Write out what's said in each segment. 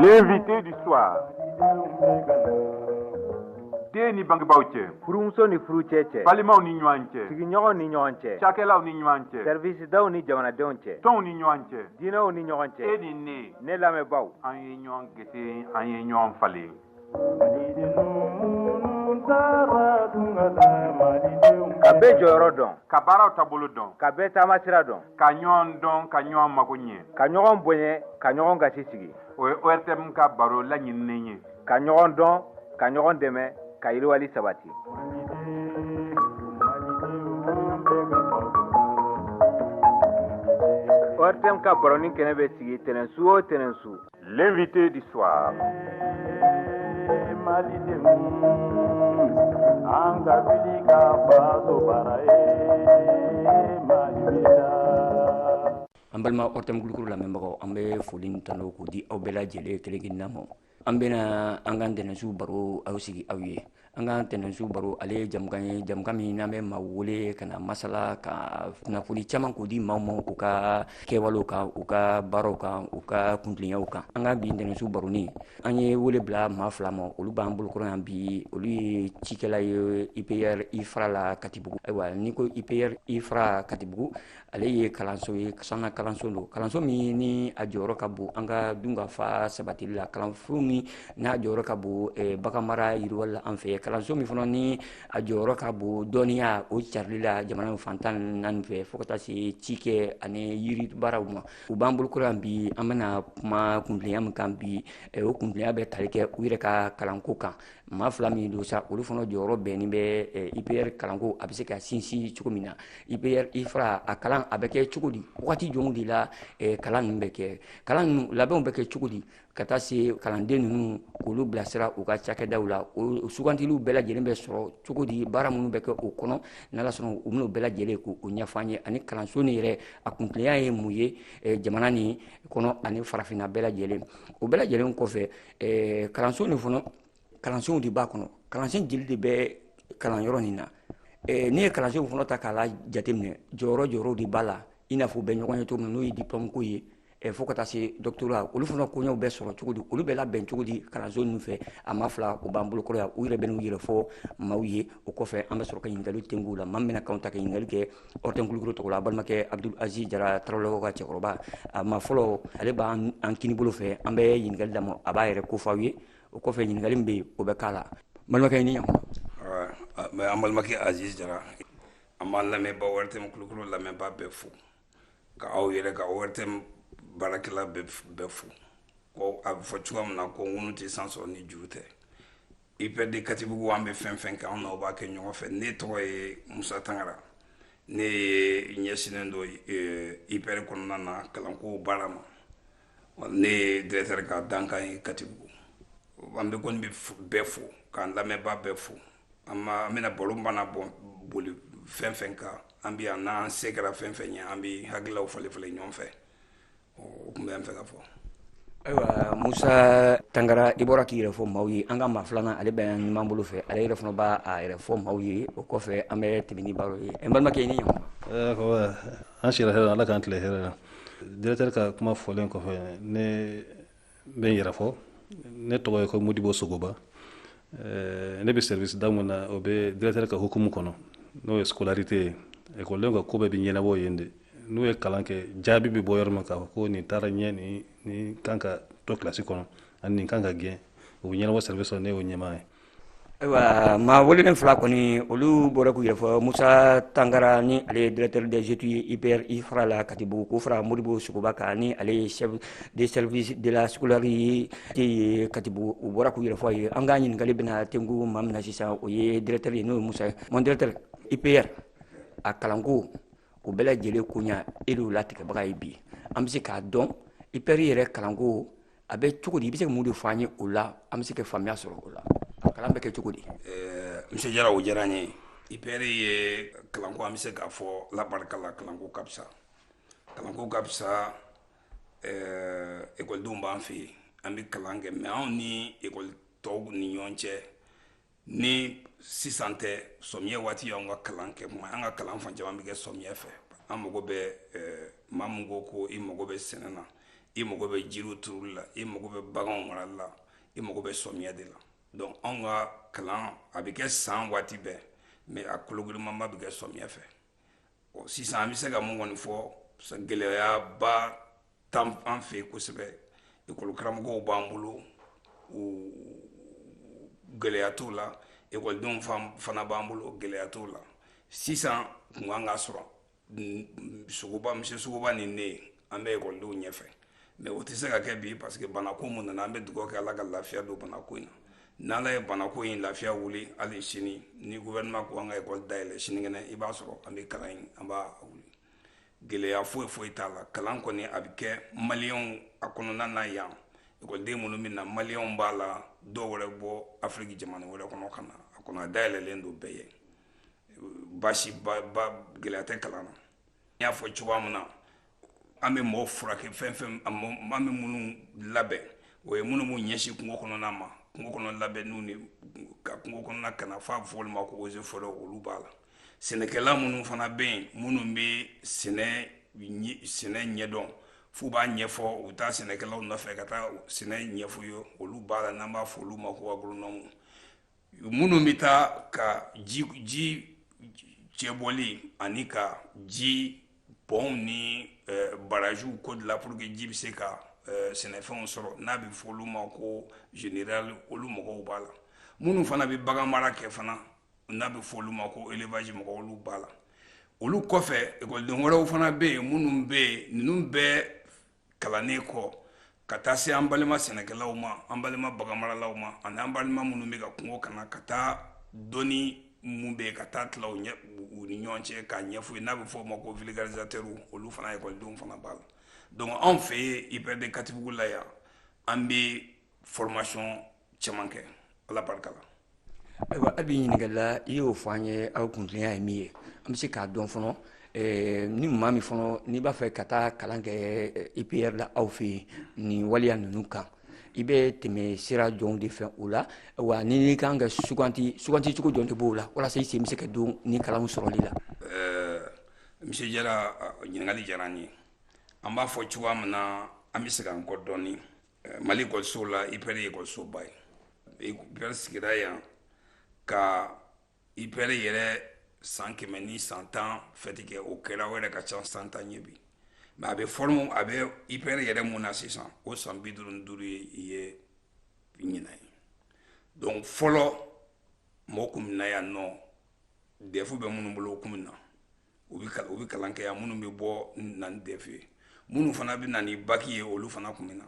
L'invité du soir. Den ni bangebaaw cɛ. Furumuso ni furucɛ cɛ. Balimaw ni ɲɔgɔn cɛ. Sigiɲɔgɔnw ni ɲɔgɔn cɛ. Cakɛlaw ni ɲɔgɔn cɛ. Servisidaw ni jamanadenw cɛ. Tɔnw ni ɲɔgɔn cɛ. Diinɛw ni ɲɔgɔn cɛ. E ni ne. Ne lamɛnbaaw. An ye ɲɔgɔn gese, an ye ɲɔgɔn falen. ka bɛɛ jɔyɔrɔ dɔn ka baaraw taabolo dɔn ka bɛɛ taamasira dɔn ka ɲɔgɔn dɔn ka ɲɔgɔn mago ɲɛ ka ɲɔgɔn bonya ka ɲɔgɔn gasi sigi o ye ORTM ka baro laɲininen ye ka ɲɔgɔn dɔn ka ɲɔgɔn dɛmɛ ka yiriwali sabati ORTM ka baroni kɛnɛ bɛ sigi tɛnɛnsu o tɛnɛnsu L'invité du soir. An balima ORTM Kulukɔrɔ lamɛnbagaw an bɛ foli ni tanun k'o di aw bɛɛ lajɛlen kelen-kelenna ma, an bɛna an ka tɛnɛnsu baro aw sigi aw ye An ka tɛnɛnsu baro ale ye jamukan ye jamukan min n'an bɛ maa wele ka na masala ka kunnafoni caman k'o di maa ma u ka kɛwalew kan u ka baaraw kan u ka kuntilenyaw kan an ka bi tɛnɛnsu baro nin an ye wele bila maa fila ma olu b'an bolokɔrɔ yan bi olu ye cikɛla ye IPR IFRA la katibugu ayiwa n'i ko IPR IFRA katibugu ale ye kalanso ye sanfɛ kalanso don kalanso min ni a jɔyɔrɔ ka bon an ka dunkafa sabatili la kalanso min n'a jɔyɔrɔ ka bon eh, baganmara yiriwali la an fɛ kalanso min fana ni a jɔyɔrɔ ka bon dɔnniya o carili la jamana fan tan ni naani fɛ fo ka taa se cikɛ ani yiri baaraw ma u b'an bolokɔrɔ yan bi an bɛna kuma kuntilenya min kan bi eh, o kuntilenya bɛ tali kɛ u yɛrɛ ka kalanko kan maa fila min don sa olu fana jɔyɔrɔ bɛnnen bɛ eh, IPR kalanko a bɛ se ka sinsin cogo min na IPR IFRA a kalan a bɛ kɛ cogo di wagati jɔnw de la eh, kalan ninnu bɛ kɛ kalan ninnu labɛnw bɛ kɛ cogo di ka taa se kalanden ninnu k'olu bilasira u ka cakɛdaw la o sugantiliw bɛɛ lajɛlen bɛ sɔrɔ cogo di baara minnu bɛ kɛ o kɔnɔ n'ala sɔnna u bɛn'o bɛɛ lajɛlen k'o ɲɛfɔ an ye ani kalanso nin yɛrɛ a kuntilenya ye mun ye eh, jamana nin kɔnɔ ani farafinna bɛɛ lajɛlen o bɛɛ lajɛlen kɔfɛ eh, kalanso nin fana kalansenw de b'a kɔnɔ kalansen jeli de bɛ kalanyɔrɔ nin na eh, n'i ye kalansenw fana ta k'a la jateminɛ jɔyɔrɔ jɔyɔrɔ de b'a la i n'a fɔ u bɛ ɲɔgɔn ye cogo min na n'o ye diplɔmu ko ye eh, fo ka taa se dɔkitɔrɔya olu fana koɲɛw bɛ sɔrɔ cogo di olu bɛ labɛn cogo di kalanso ninnu fɛ a maa fila u b'an bolokɔrɔ yan u yɛrɛ bɛn'u yɛrɛ fɔ maaw ye o kɔfɛ an bɛ sɔrɔ ka ɲininkaliw tengu u la maa min bɛna kanw ta ka ɲininkali kɛ ORTM Kulukoro tɔgɔ la, a balimakɛ Abudul Aziz Jara Tarawelelakaw ka cɛkɔrɔba, a ma fɔlɔ, ale b'an an kinibolo fɛ, an bɛ ɲininkali d'a ma, a b'a yɛrɛ ko fɔ aw ye, o kɔfɛ ɲininkali min bɛ yen, o bɛ k'a la. N balimakɛ, i ni ɲankuma. Nba, an balimakɛ Aziz Jara, an b'an lamɛnbaa ORTM Kulukoro lamɛnbaa bɛɛ fo, ka aw yɛrɛ, ka ORTM baarakɛla bɛɛ fo, ko a bɛ fɔ cogoya min na, ko ŋunu tɛ san sɔrɔ ni juru tɛ. ipr de katibugu an bɛ fɛn fɛn kɛ anw n'aw b'a kɛ ɲɔgɔn fɛ ne tɔgɔ ye musa tangara ne ye ɲɛsinnen don ipr kɔnɔna na kalanko baara ma ne ye directeur ka dankan ye katibugu an bɛ kɔni bɛ bɛɛ fo k'an lamɛnbaa bɛɛ fo an bɛna baro mana bɔ boli fɛn fɛn kan an bɛ yan n'an se kɛra fɛn fɛn ye an bɛ hakililaw falen falen ɲɔgɔn fɛ o tun bɛ an fɛ ka fɔ ayiwa musa tangara i bɔra k'i yɛrɛ fɔ maaw ye an ka maa filanan ale bɛ numan bolo fɛ ale yɛrɛ fana b'a a yɛrɛ fɔ maaw ye o kɔfɛ an bɛ tɛmɛ ni baro ye n balimakɛ i ni ɲankuma an sira hɛrɛ ala k'an tile hɛrɛ la directeur ka kuma fɔlen kɔfɛ ne n bɛ n yɛrɛ fɔ ne tɔgɔ ye ko modibo sogoba eh, ne bɛ service da min na o bɛ directeur ka hukumu kɔnɔ n'o ye scolarité ye ekɔlidenw ka ko bɛɛ bɛ ɲɛnabɔ yen de n'u ye kalan kɛ jaabi bɛ bɔ yɔrɔ min k'a fɔ ko nin taara ɲɛ nin nin kan ka to kilasi kɔnɔ ani nin kan ka gɛn o bɛ ɲɛnabɔ service la ne y'o ɲɛmaa ye ayiwa maa welelen fila kɔni olu bɔra k'u yɛrɛ fɔ musa tangara ni ale ye directeur des études ipr ifra la katibugu k'o fara modibo sogoba kan ni ale ye chef de service de la scolarité ye katibugu u bɔra k'u yɛrɛ fɔ aw ye an ka ɲininkali bɛna tengu maa min na sisan o ye directeur ye n'o ye musa ye mon directeur ipr a kalanko o bɛɛ lajɛlen koɲa e de y'o latigɛbaga ye bi an bɛ se k'a dɔn ipr yɛrɛ kalanko a bɛ cogo di i bɛ se ka mun de fɔ an ye o la an bɛ se ka faamuya sɔrɔ o la kalan bɛ kɛ cogo di monsieur jara o diyara n ye ipr ye kalanko an bɛ se k'a fɔ ala barika la kalanko ka fisa kalanko ka fisa ekɔlidenw b'an fɛ yen an bɛ kalan kɛ mais anw ni ekɔli tɔw ni ɲɔgɔn cɛ ni sisan tɛ sɔmiya waati y'anw ka kalan kɛ kuma an ka kalan fan caman bɛ kɛ sɔmiya fɛ an mago bɛ eh, maa min ko ko i mago bɛ sɛnɛ na i mago bɛ jiriw turuli la i mago bɛ baganw marali la i mago bɛ sɔmiya de la donc anw ka kalan a bɛ kɛ san waati bɛɛ mais a kologirimanba bɛ kɛ sɔmiya fɛ sisan an bɛ se ka mun kɔni fɔ gɛlɛyaba t'an fɛ yen kosɛbɛ ekɔlikaramɔgɔw b'an bolo gɛlɛya t'o la ekɔlidenw fana b'an bolo gɛlɛya t'o la sisan kun kan ka sɔrɔ sɔgɔma bi sɔgɔma nin na an bɛ ekɔlidenw ɲɛfɛ mais o tɛ se ka kɛ bi parce que banako mun nana an bɛ dugawu kɛ ala ka lafiya don banako in na n'ala ye banako in lafiya wuli hali sini ni gouvernement ko an ka ekɔli dayɛlɛ sinikɛnɛ i b'a sɔrɔ an bɛ kalan in an b'a wuli gɛlɛya foyi foyi t'a la kalan kɔni a bɛ kɛ maliyɛnw a kɔnɔna na yan ekɔliden minnu bɛ na maliyɛnw b'a la dɔw wɛrɛ bɔ afiriki jamana wɛrɛ kɔnɔ ka na a kɔnɔ a dayɛlɛlen don bɛɛ ye baasi ba gɛlɛya tɛ kalan na n y'a fɔ cogoya min na an bɛ mɔgɔw furakɛ fɛn fɛn an bɛ minnu labɛn o ye minnu b'u ɲɛsin kungo kɔnɔna ma kungo kɔnɔ labɛnniw ni ka kungo kɔnɔna kana n'a bɛ fɔ olu ma ko eaux et forêts olu b'a la sɛnɛkɛla minnu fana bɛ yen minnu bɛ sɛnɛ sɛnɛ ɲɛdɔn f'u b'a ɲɛfɔ u taa sɛnɛkɛlaw nɔfɛ ka taa sɛnɛ ɲɛf'u ye olu b'a la n'an b'a fɔ olu ma ko agoronɔmu minnu bɛ taa ka ji ji cɛbɔli ani ka ji pɔnw ni eh, barajiw ko dilan pour que ji bɛ se ka eh, sɛnɛfɛnw sɔrɔ n'a bɛ fɔ olu ma ko génie rural olu mɔgɔw b'a la minnu fana bɛ bagan mara kɛ fana n'a bɛ fɔ olu ma ko élevage mɔgɔw olu b'a la olu kɔfɛ ekɔliden wɛrɛw fana bɛ yen minnu bɛ yen ninnu bɛɛ kalannen kɔ ka taa se an balima sɛnɛkɛlaw ma an balima baganmaralaw ma ani an balima minnu bɛ ka kungo kana ka taa dɔnni mun bɛ yen ka taa tila u ni ɲɔgɔn cɛ k'a ɲɛf'u ye n'a bɛ fɔ o ma ko vulgarisateur olu fana ekɔlidenw fana b'a la donc anw fɛ yen IPR de Katibugu la yan an bɛ formation caman kɛ ala barika la ayiwa a bɛ ɲininkali la i y'o fɔ an ye aw kuntilenna ye min ye an bɛ se k'a dɔn fɔlɔ eh, ni maa min fɔlɔ n'i b'a fɛ ka taa kalan kɛ eh, IPR la aw fɛ yen nin waleya ninnu kan i bɛ tɛmɛ sira jɔnw de fɛ o la wa ni n'i kan ka sugandi sugandi cogo jɔn de b'o la walasa i sen bɛ se ka don nin kalanw sɔrɔli la. Eh, Monsieur Jara ɲininkali diyara an ye an b'a fɔ cogoya min na an bɛ segin an kɔ dɔɔnin. mali ekɔliso la ipɛrɛ ye ekɔlisoba ye ipɛrɛ sigira yan ka ipɛrɛ yɛrɛ san kɛmɛ ni san tan fɛti kɛ o kɛra o yɛrɛ ka ca san tan ye bi mais a bɛ fɔlɔ a bɛ ipɛrɛ yɛrɛ mun na sisan o san bi duuru ni duuru ye i ye ɲinan ye donc fɔlɔ mɔgɔ kun bɛ na yan nɔ dɛfu bɛ minnu bolo o kun bɛ na u bɛ kalan kɛ yan minnu bɛ bɔ na ni defu ye minnu fana bɛ na ni baki ye olu fana tun bɛ na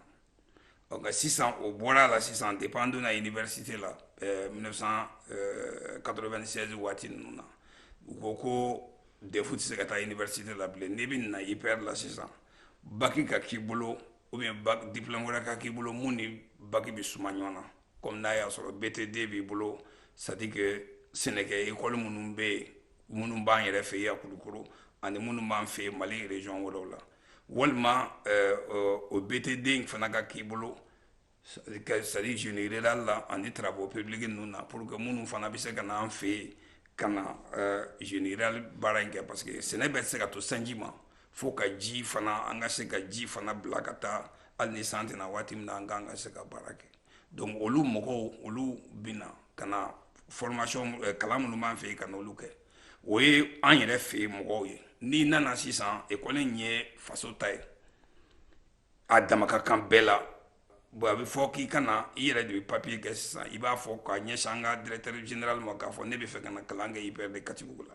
ɔ nka sisan o bɔra a la sisan depuis an donna université la ɛɛ 1996 waati ninnu na u ko ko defu tɛ se ka taa université la bilen n'i bɛ na IPR la sisan baki ka k'i bolo ou bien diplôme wɛrɛ ka k'i bolo mun ni baki bɛ suma ɲɔgɔn na kɔmi n'a y'a sɔrɔ btd b'i bolo c'est-à-dire que sɛnɛkɛ ekɔli minnu bɛ yen minnu b'an yɛrɛ fɛ yan kulukoro ani minnu b'an fɛ mali région wɛrɛw la walima o btd in fana ka k'i bolo c'est-à-dire génie rural la ani travaux publics ninnu na pour que minnu fana bɛ se ka na an fɛ yen ka na génie rural baara in kɛ parce que sɛnɛ tɛ se ka to sanji ma fo ka ji fana an ka se ka ji fana bila ka taa hali ni san tɛ na waati min na an ka an ka se ka baara kɛ donc olu mɔgɔw olu bɛ na ka na formation eh, kalan minnu b'an fɛ yen ka n'olu kɛ o ye an yɛrɛ fɛ yen mɔgɔw ye n'i nana sisan ekɔli in ye faso ta ye a dama ka kan bɛɛ la bon a bɛ fɔ k'i ka na i yɛrɛ de bɛ papiye kɛ sisan i b'a fɔ k'a ɲɛsin an ka directeur général ma k'a fɔ ne bɛ fɛ ka na kalan kɛ IPR de Katibugu la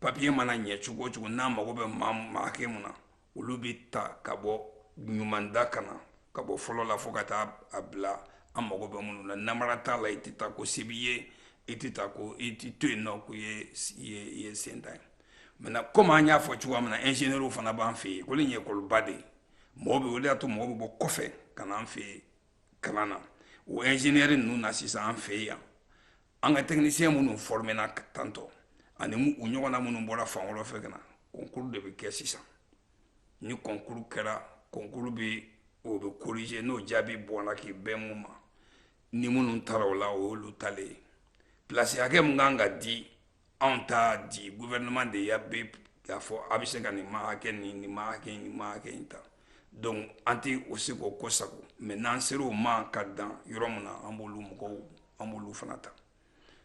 papiye mana ɲɛ cogo o cogo n'a mago bɛ maa maa hakɛ mun na olu bɛ ta ka bɔ ɲumanda ka na ka bɔ fɔlɔ la fo ka taa a bila an mago bɛ minnu na namara t'a la i tɛ ta ko se b'i ye i tɛ ta ko i tɛ to yen nɔ k'i ye ye ye sentan ye maintenant komi an y'a fɔ cogoya min na ingénieurw fana b'an fɛ yen ekɔli in ye ekɔliba de ye mɔgɔ bɛ o de y'a to mɔgɔ bɛ bɔ kɔfɛ ka na an fɛ yen kalan na o ingénieur ninnu na sisan an fɛ yen yan an ka tɛkinisiyɛn minnu fɔrɔmena tantɔ ani u ɲɔgɔnna minnu bɔra fan wɛrɛ fɛ ka na kɔnkuru de bɛ kɛ sisan ni kɔnkuru kɛra kɔnkuru bɛ o bɛ korize n'o jaabi bɔra k'i bɛn mun ma ni minnu tara o la o y'olu talen ye pilasi hakɛ min kan ka di anw t'a di gouvernement de y'a bɛn k'a fɔ a bɛ se ka nin maa hakɛ ni nin maa hakɛ ni maa hakɛ in ta donc an tɛ o se k'o kɔsagon mais n'an sera o ma ka dan yɔrɔ min na an b'olu mɔgɔw an b'olu fana ta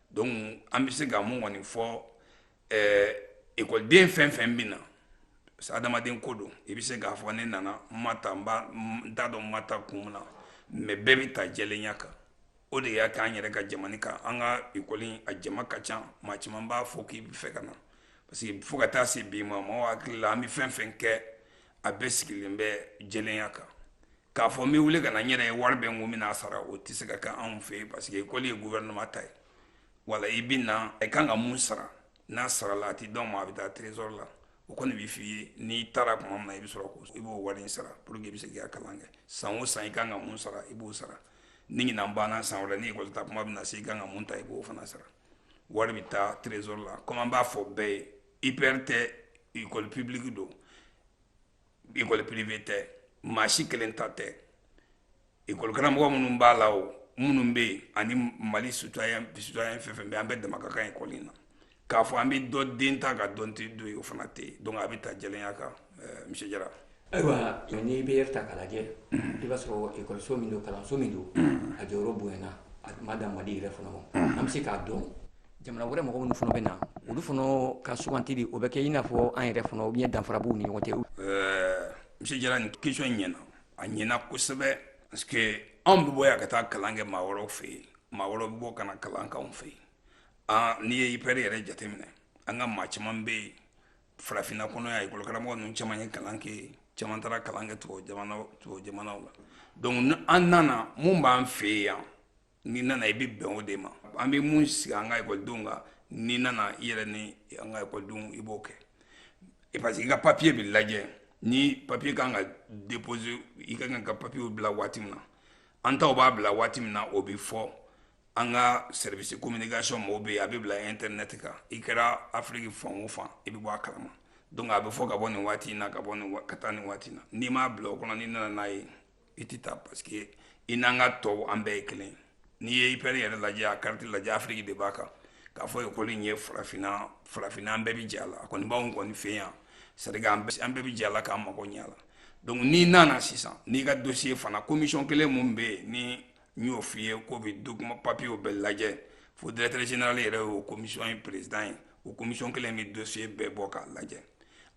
donc an bɛ se ka mun kɔni fɔ ɛɛ ekɔliden fɛn fɛn bɛ na parce que adamaden ko don i bɛ se k'a fɔ ne nana n ma ta n b'a n t'a dɔn n ma ta kun min na mais bɛɛ bɛ ta jɛlenya kan o de y'a k'an yɛrɛ ka jamana kan an ka ekɔli a jama ka ca maa caman b'a fɔ k'i bɛ fɛ ka na parce que fo ka taa se bi ma mɔgɔw hakili la an bɛ fɛn fɛn kɛ a bɛɛ sigilen bɛ jɛlenya kan k'a fɔ n bɛ wuli ka na n yɛrɛ ye wari bɛ n kun n bɛna a sara o tɛ se ka kɛ anw fɛ yen parce que ekɔli ye gouvernement ta ye wala i bɛ na i kan ka mun sara n'a sarala a tɛ d'an ma a bɛ taa trésor la o kɔni bɛ f'i ye n'i taara tuma min na i bɛ sɔrɔ ko i b'o wari in sara pour que i bɛ se k'i ka kalan kɛ san o san i kan ka mun sara i b'o sara ni ɲinan banna san wɛrɛ ni ekɔli ta kuma bɛna se i ka kan ka mun ta i b'o fana sara wari bɛ taa trésor la comme an b'a fɔ bɛɛ ye IPR tɛ école publique don école privée tɛ maa si kelen ta tɛ école karamɔgɔ minnu b'a la o minnu bɛ yen ani Mali citoyen fɛn fɛn bɛ yen an bɛɛ dama ka kan école in na k'a fɔ an bɛ dɔ den ta ka dɔ den to yen o fana tɛ yen donc a bɛ ta jɛlenya kan eh, monsieur Jara. ayiwa ni IPR ta k'a lajɛ mm. i b'a sɔrɔ ekɔliso min don kalanso min don mm. a jɔyɔrɔ bonyana a ma dan mali yɛrɛ fana ma mm. an bɛ se k'a dɔn jamana wɛrɛ mɔgɔ minnu fana bɛ na olu fana ka sugantili o bɛ kɛ i n'a fɔ an yɛrɛ fana ou danfara b'u ni ɲɔgɔn cɛ. Eh, monsieur Jara nin question in ɲɛna a ɲɛna kosɛbɛ parce que anw bɛ bɔ yan ka taa kalan kɛ maa wɛrɛw fɛ yen maa wɛrɛw bɛ bɔ ka na kalan k'anw fɛ yen. aa n'i ye IPR yɛrɛ jateminɛ an ka maa caman bɛ yen farafinna kɔnɔ yan ekɔli karamɔgɔ ninnu caman ye kalan kɛ caman taara kalan kɛ tubabu jamanaw tubabu jamanaw la donc ni an nana mun b'an fɛ yan n'i nana i bɛ bɛn o de ma an bɛ mun sigi an ka ekɔlidenw kan n'i nana i yɛrɛ ni an ka ekɔlidenw i b'o kɛ parce que i ka papiye bɛ lajɛ ni papiye kan ka déposer i ka kan ka papiyew bila waati min na an taw b'a bila waati min na o bɛ fɔ an ka service communication mɔgɔw bɛ yen a bɛ bila internet kan i kɛra afiriki fan o fan i bɛ bɔ a kalama donc a bɛ fɔ ka bɔ nin waati in na ka bɔ ka taa nin waati na n'i m'a bila o kɔnɔ n'i nana n'a ye i tɛ ta parce que i n'an ka tɔw an bɛɛ ye kelen n'i ye IPR yɛrɛ lajɛ a kariti lajɛ afiriki de b'a kan k'a fɔ ekɔli in ye farafinna farafinna an bɛɛ bɛ jɛ a la a kɔni b'anw kɔni fɛ yan c'est-à-dire an bɛɛ bɛ jɛ a la k'an mago ɲɛ a la donc n'i nana sisan n'i ka dossier fana commission kelen min bɛ yen ni n y'o f'i ye k'o bɛ document papiyew bɛɛ lajɛ fo directeur général yɛrɛ y'o commission ye président ye o commission kelen bɛ dossier bɛɛ bɔ k'a lajɛ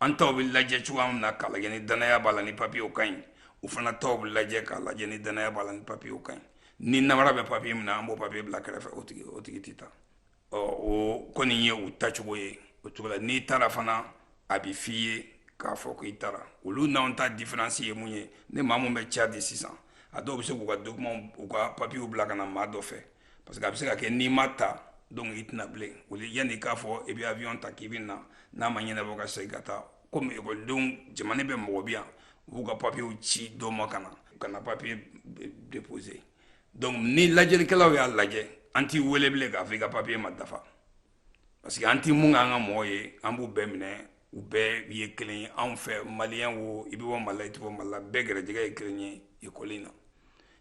an taw bɛ lajɛ cogoya min na k'a lajɛ ni danaya b'a la ni papiyew ka ɲi u fana taw bɛ lajɛ k'a lajɛ ni danaya b'a la ni papiyew ka ɲi ni namara bɛ papiye min na an b'o papiye bila kɛrɛfɛ o tigi o tigi tɛ ta ɔ o kɔni ye u tacogo ye o cogo la n'i tara fana a bɛ f'i ye k'a fɔ ko i tara olu n'anw ta différence ye mun ye ni maa min bɛ Tchad sisan a dɔw bɛ se k'u ka document u ka papiyew bila ka na maa dɔ fɛ parce que a bɛ se ka kɛ n'i ma ta donc i tɛ na bilen o de yanni k'a fɔ i bɛ avion ta k'i bɛ na n'a ma ɲɛnabɔ ka segin ka taa komi ekɔlidenw jamana bɛɛ mɔgɔ bɛ yan u b'u ka papiyew ci dɔ ma ka na u ka na papiye déposer donc ni lajɛlikɛlaw y'a lajɛ an t'i wele bilen k'a fɔ i ka papiye ma dafa parce que an t'i mun k'an ka mɔgɔ ye an b'u bɛɛ minɛ u bɛɛ ye kelen ye anw fɛ maliyɛn wo i bɛ bɔ mali la i tɛ bɔ mali la bɛɛ gɛrɛjɛgɛ ye kelen ye ekɔli na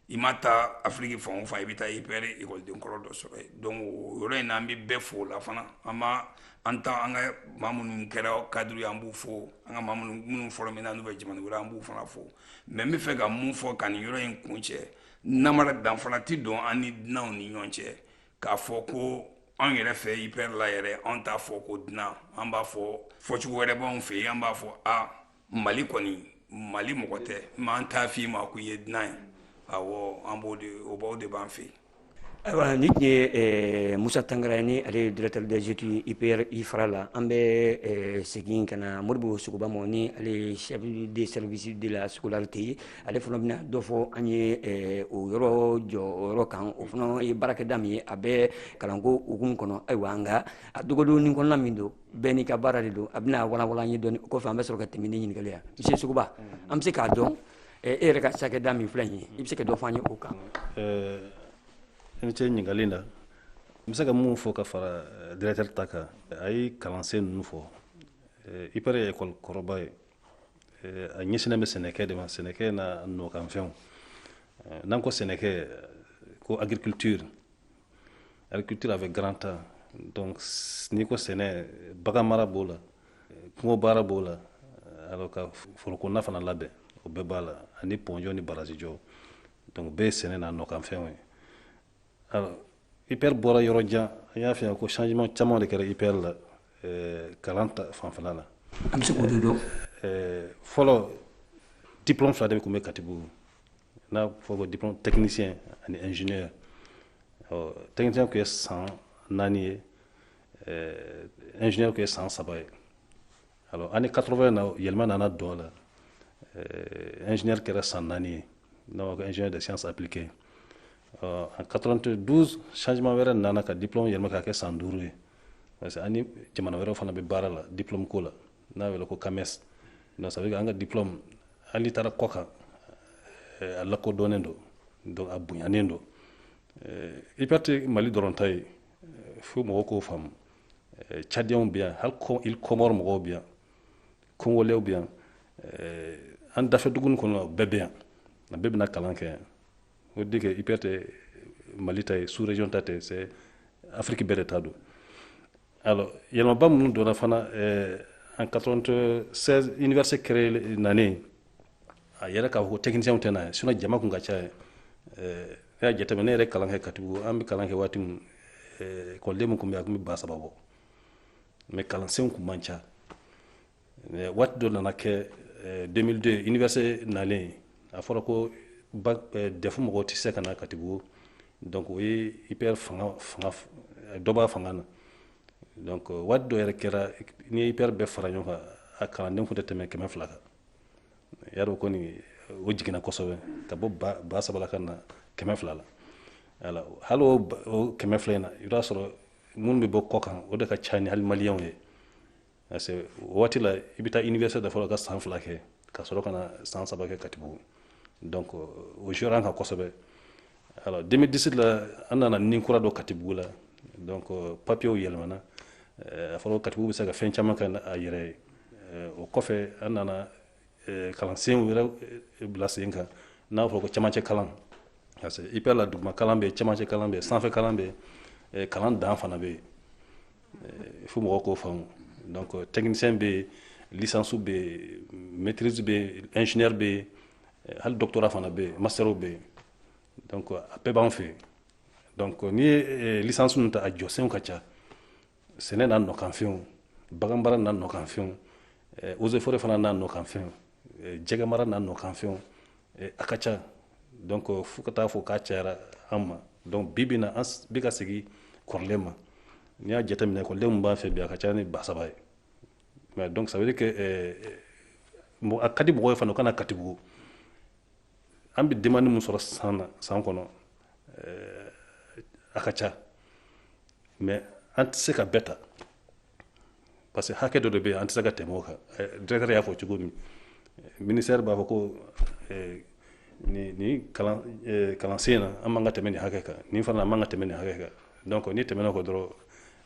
i ma taa afiriki fan o fan i bɛ taa IPR ekɔliden kɔrɔ dɔ sɔrɔ yen donc o yɔrɔ in na an bɛ bɛɛ fo o la fana an ma an ta an ka maa minnu kɛra cadre ye an b'u fo an ka maa minnu formé na n'u bɛ jamana wɛrɛ an b'u fana fo mais n bɛ fɛ ka mun fɔ ka nin yɔrɔ in kuncɛ namara danfara tɛ don an ni dunanw ni ɲɔgɔn cɛ k'a fɔ ko an yɛrɛ fɛ ipr la yɛrɛ an t'a fɔ ko dunan an b'a fɔ fɔcogo wɛrɛ b'anw fɛ yen an b'a fɔ a mali kɔni mali mɔgɔ tɛ mais an t'a f'i ma ko i ye dunan ye awɔ an b'o de o b'a o de b'an fɛ yen ayiwa nin tun ye eh, musa tangara ni ale ye directeur des études ipr ifra la an bɛ eh, segin ka na moribo sogoba ma ni ale ye chef de service de la scolarité ye ale fana bɛna dɔ fɔ an ye eh, o yɔrɔ jɔyɔrɔ kan o fana ye baarakɛda min ye a bɛ kalanko hukumu kɔnɔ ayiwa nka a dogodonni kɔnɔna min don bɛɛ n'i ka baara de don a bɛna walawala an ye dɔɔni o kɔfɛ an bɛ sɔrɔ ka tɛmɛ ni ɲininkali ye monsieur sogoba an bɛ se k'a dɔn e yɛrɛ ka cakɛda min filɛ nin ye i bɛ se ka dɔ fɔ an ye o kan i ni ce ɲininkali la n bɛ se ka mun fɔ ka fara eh, directeur ta kan a ye kalansen ninnu fɔ eh, ipr ye ekɔli kɔrɔba ye eh, a ɲɛsinnen bɛ sɛnɛkɛ de ma sɛnɛkɛ n'a nɔkanfɛnw n'an ko sɛnɛkɛ ko agriculture agriculture avec grand a donc n'i ko sɛnɛ bagan mara b'o la kungo baara b'o la alors ka forokɔnɔna fana labɛn o bɛɛ b'a la ani pɔn jɔ ni barazi jɔ donc bɛɛ ye sɛnɛ n'a nɔkanfɛnw ye alors ipr bɔra yɔrɔ jan an y'a fɔ yan ko changement caman de kɛra ipr la eh, kalan ta fanfɛla la an bɛ se k'o de dɔn eh, fɔlɔ diplôme fila de tun bɛ katibugu n'a fɔ ko diplôme technicien ani ingénieur ɔ technicien tun ye san naani ye eh, ingénieur tun ye san saba ye alors année 80 na yɛlɛma nana don a la eh, ingénieur kɛra san naani ye n'a fɔ ko ingénieur de sciences appliquées ɔ en 92 changement wɛrɛ nana ka diplôme yɛlɛma ka kɛ san duuru ye parce que an ni jamana wɛrɛw fana bɛ baara la diplôme ko la n'a wele ko cames donc ça veut dire an ka diplôme hali taara kɔ kan eh, a lakodɔnnen don donc a bonyanen don eh, ipr tɛ mali dɔrɔn ta ye eh, fo mɔgɔw k'o faamu cadiyɛnw bɛ yan hali îles comores mɔgɔw bɛ yan kongolɛw bɛ yan an dafɛ dugu ninnu kɔni bɛɛ bɛ yan a bɛɛ bɛ na kalan kɛ yan o de kɛ ipr tɛ mali ta ye sous région ta tɛ c'est afrique bɛɛ de ta don Alors, yɛlɛmaba minnu donna fana eh, en 96 université créée nanen a yera k'a fɔ ko techniciens tɛ na yen sinon jama tun ka ca yen eh, ne y'a jateminɛ ne yɛrɛ kalan kɛ katibugu an bɛ kalan kɛ waati min eh, ekɔliden min tun bɛ a tun bɛ ba saba bɔ mais kalansenw tun man ca waati dɔ nana kɛ 2002 université nalen a fɔra ko dɛfu mɔgɔw tɛ se ka na katibugu donc o ye ipr fanga fanga dɔ b'a fanga na donc waati dɔ yɛrɛ kɛra n'i ye ipr bɛɛ fara ɲɔgɔn kan a kalanden tun tɛ tɛmɛ kɛmɛ fila kan y'a dɔn kɔni o jiginna kosɛbɛ ka bɔ ba saba la ka na kɛmɛ fila la alors hali o kɛmɛ fila in na i b'a sɔrɔ minnu bɛ bɔ kɔ kan o de ka ca ni hali maliyɛnw ye parce que o waati la i bɛ taa université de fɔlɔ ka san fila kɛ ka sɔrɔ ka na san saba kɛ katibugu donc o jouera an kan kosɛbɛ alors 2017 la an nana ni kura don katibugu la donc papiyew yɛlɛmana a fɔra ko katibugu bɛ se ka fɛn caman kɛ a yɛrɛ ye o kɔfɛ an nana kalansen wɛrɛ bila sen kan n'a fɔ ko camancɛ kalan parce que ipr la duguma kalan bɛ camancɛ kalan bɛ sanfɛ kalan bɛ kalan dan fana bɛ fo mɔgɔ k'o faamu donc technicien bɛ licence bɛ maîtrise bɛ ingénieur bɛ hali doctorat fana bɛ master bɛ donc a bɛɛ b'an fɛ donc n'i ye licence ninnu ta a jɔsenw ka ca sɛnɛ n'a nɔkanfɛnw baganmara n'a nɔkanfɛnw eh, eaux et forêts fana n'a nɔkanfɛnw eh, jɛgɛmara n'a nɔkanfɛnw eh, a ka ca donc fo ka taa fɔ k'a cayara an ma donc bi bi in na an bɛ ka segin kɔrɔlen ma n'i y'a jateminɛ ekɔliden min b'an fɛ bi a ka ca ni ba saba ye mais donc ça veut dire que a ka di mɔgɔw ye fana u ka na katibugu an bɛ demande min sɔrɔ san na san kɔnɔ eh, a ka ca mais an tɛ se ka bɛɛ ta parce que hakɛ dɔ de bɛ yen an tɛ se ka tɛmɛ o kan eh, directeur y'a fɔ cogo min ministère b'a fɔ ko eh, nin nin kalan kalansen na an man ka tɛmɛ nin hakɛ kan nin fana an man ka tɛmɛ nin hakɛ kan donc n'i tɛmɛna o kan dɔrɔn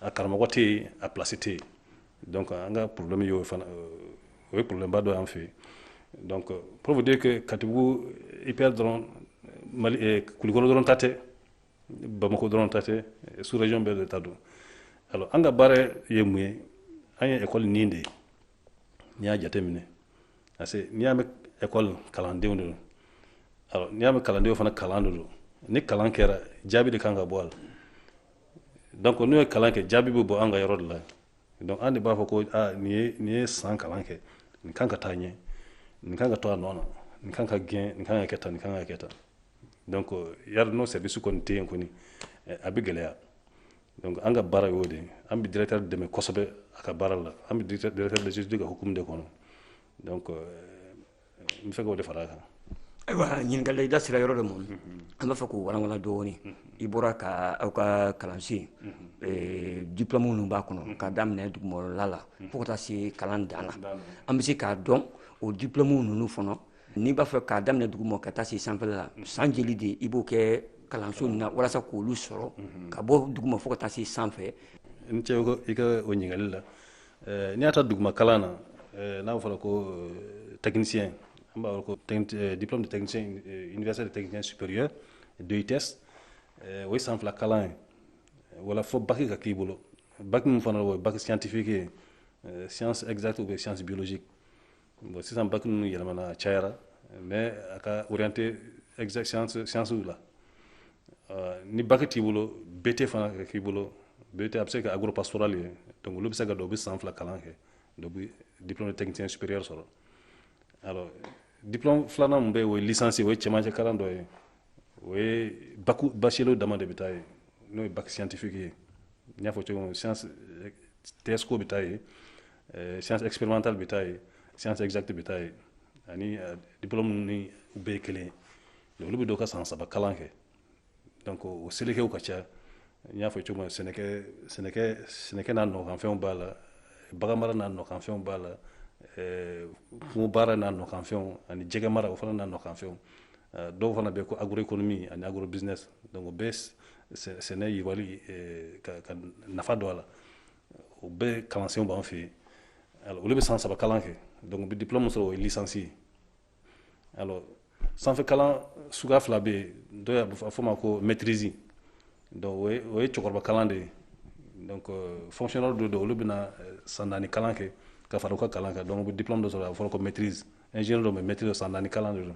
a karamɔgɔ tɛ yen a place tɛ yen donc an ka problème y'o fana o ye problème ba dɔ y'an fɛ donc pour vous dire que katibugu ipr dɔrɔn mali eh, kulikɔrɔ dɔrɔn ta tɛ bamako dɔrɔn ta tɛ sous région bɛɛ de ta don alors an ka baara ye mun ye an ye école nin de ye n'i y'a jateminɛ parce que n'i y'a mɛn école kalandenw de don alors n'i y'a mɛn kalandenw fana kalan de don ni kalan kɛra jaabi de kan ka bɔ a la donc n'u ye kalan kɛ jaabi bɛ bɔ an ka yɔrɔ de la donc an de b'a fɔ ko aa nin ye nin ye san kalan kɛ nin kan ka taa ɲɛ nin kan ka to a nɔ na nin kan ka gɛn nin kan ka kɛ tan nin kan ka kɛ tan donc yari n'o service kɔni tɛ yen kɔni eh, a bɛ gɛlɛya donc an ka baara y'o de ye an bɛ directeur dɛmɛ kosɛbɛ a ka baara la an bɛ directeur des études ka hukumu de kɔnɔ donc euh, n b'a fɛ k'o de fara a kan ayiwa ɲininkali i da sera yɔrɔ dɔ ma an b'a fɛ k'o walawala dɔɔni i bɔra ka aw ka kalansen eh, diplɔmu minnu b'a kɔnɔ k'a daminɛ duguma kalan na fo ka taa se kalan dan na an bɛ se k'a dɔn o diplɔmu ninnu fana n'i b'a fɛ k'a daminɛ duguma ka taa se sanfɛla la san jeli de i b'o kɛ kalanso ninnu na walasa k'olu sɔrɔ ka bɔ duguma fo ka taa se sanfɛ i ni ce ko i ka o ɲininkali la Eh, n'i y'a ta duguma kalan na eh, n'a fɔra ko eh, technicien an b'a wele ko diplôme de technicien universitaire de technicien supérieur DUTS o ye san fila kalan ye o la fo baki ka k'i bolo baki min fana o ye baki scientifique ye science exacte ou bien science biologique bon sisan baki ninnu yɛlɛmana a cayara mais a ka orienté exact science science la euh, ni baki t'i bolo BT fana ka k'i bolo BT a bɛ se ka agropastoral ye donc olu bɛ se ka don u bɛ san fila kalan kɛ donc u bɛ diplôme de technicien supérieur sɔrɔ alors diplôme filanan min bɛ yen o ye licence ye o ye cɛmancɛ kalan dɔ ye o ye baki bachelier dama de bɛ taa yen n'o ye bac scientifique ye n y'a fɔ cogo min science TSECO bɛ taa yen Eh, science expérimentale bɛ taa yen science exacte bɛ taa yen ani eh, diplôme ninnu bɛɛ ye kelen ye olu bɛ don ka san saba kalan kɛ donc o selekew ka ca n y'a fɔ cogo min na sɛnɛkɛ sɛnɛkɛ sɛnɛkɛ n'a nɔkanfɛnw b'a la baganmara n'a nɔkanfɛnw b'a la eh, kungo baara n'a nɔkanfɛnw ani jɛgɛ mara o fana n'a nɔkanfɛnw dɔw fana bɛ ko agroéconomie ani agrobusiness donc o bɛɛ sɛnɛ yiriwali ka nafa don a la o bɛɛ kalansenw b'an fɛ yen alors olu bɛ san saba kalan kɛ donc u bɛ diplôme sɔrɔ o ye licence ye alors sanfɛ kalan suguya fila bɛ yen dɔw y'a fɔ a ma ko maîtrise donc o ye o ye cɛkɔrɔba kalan de ye donc euh, fonctionnaire dɔw don olu bɛna euh, san naani kalan kɛ ka fara u ka kalan kan donc u bɛ diplôme dɔ sɔrɔ a fɔra ko maîtrise ingénieur donc maîtrise san naani kalan de don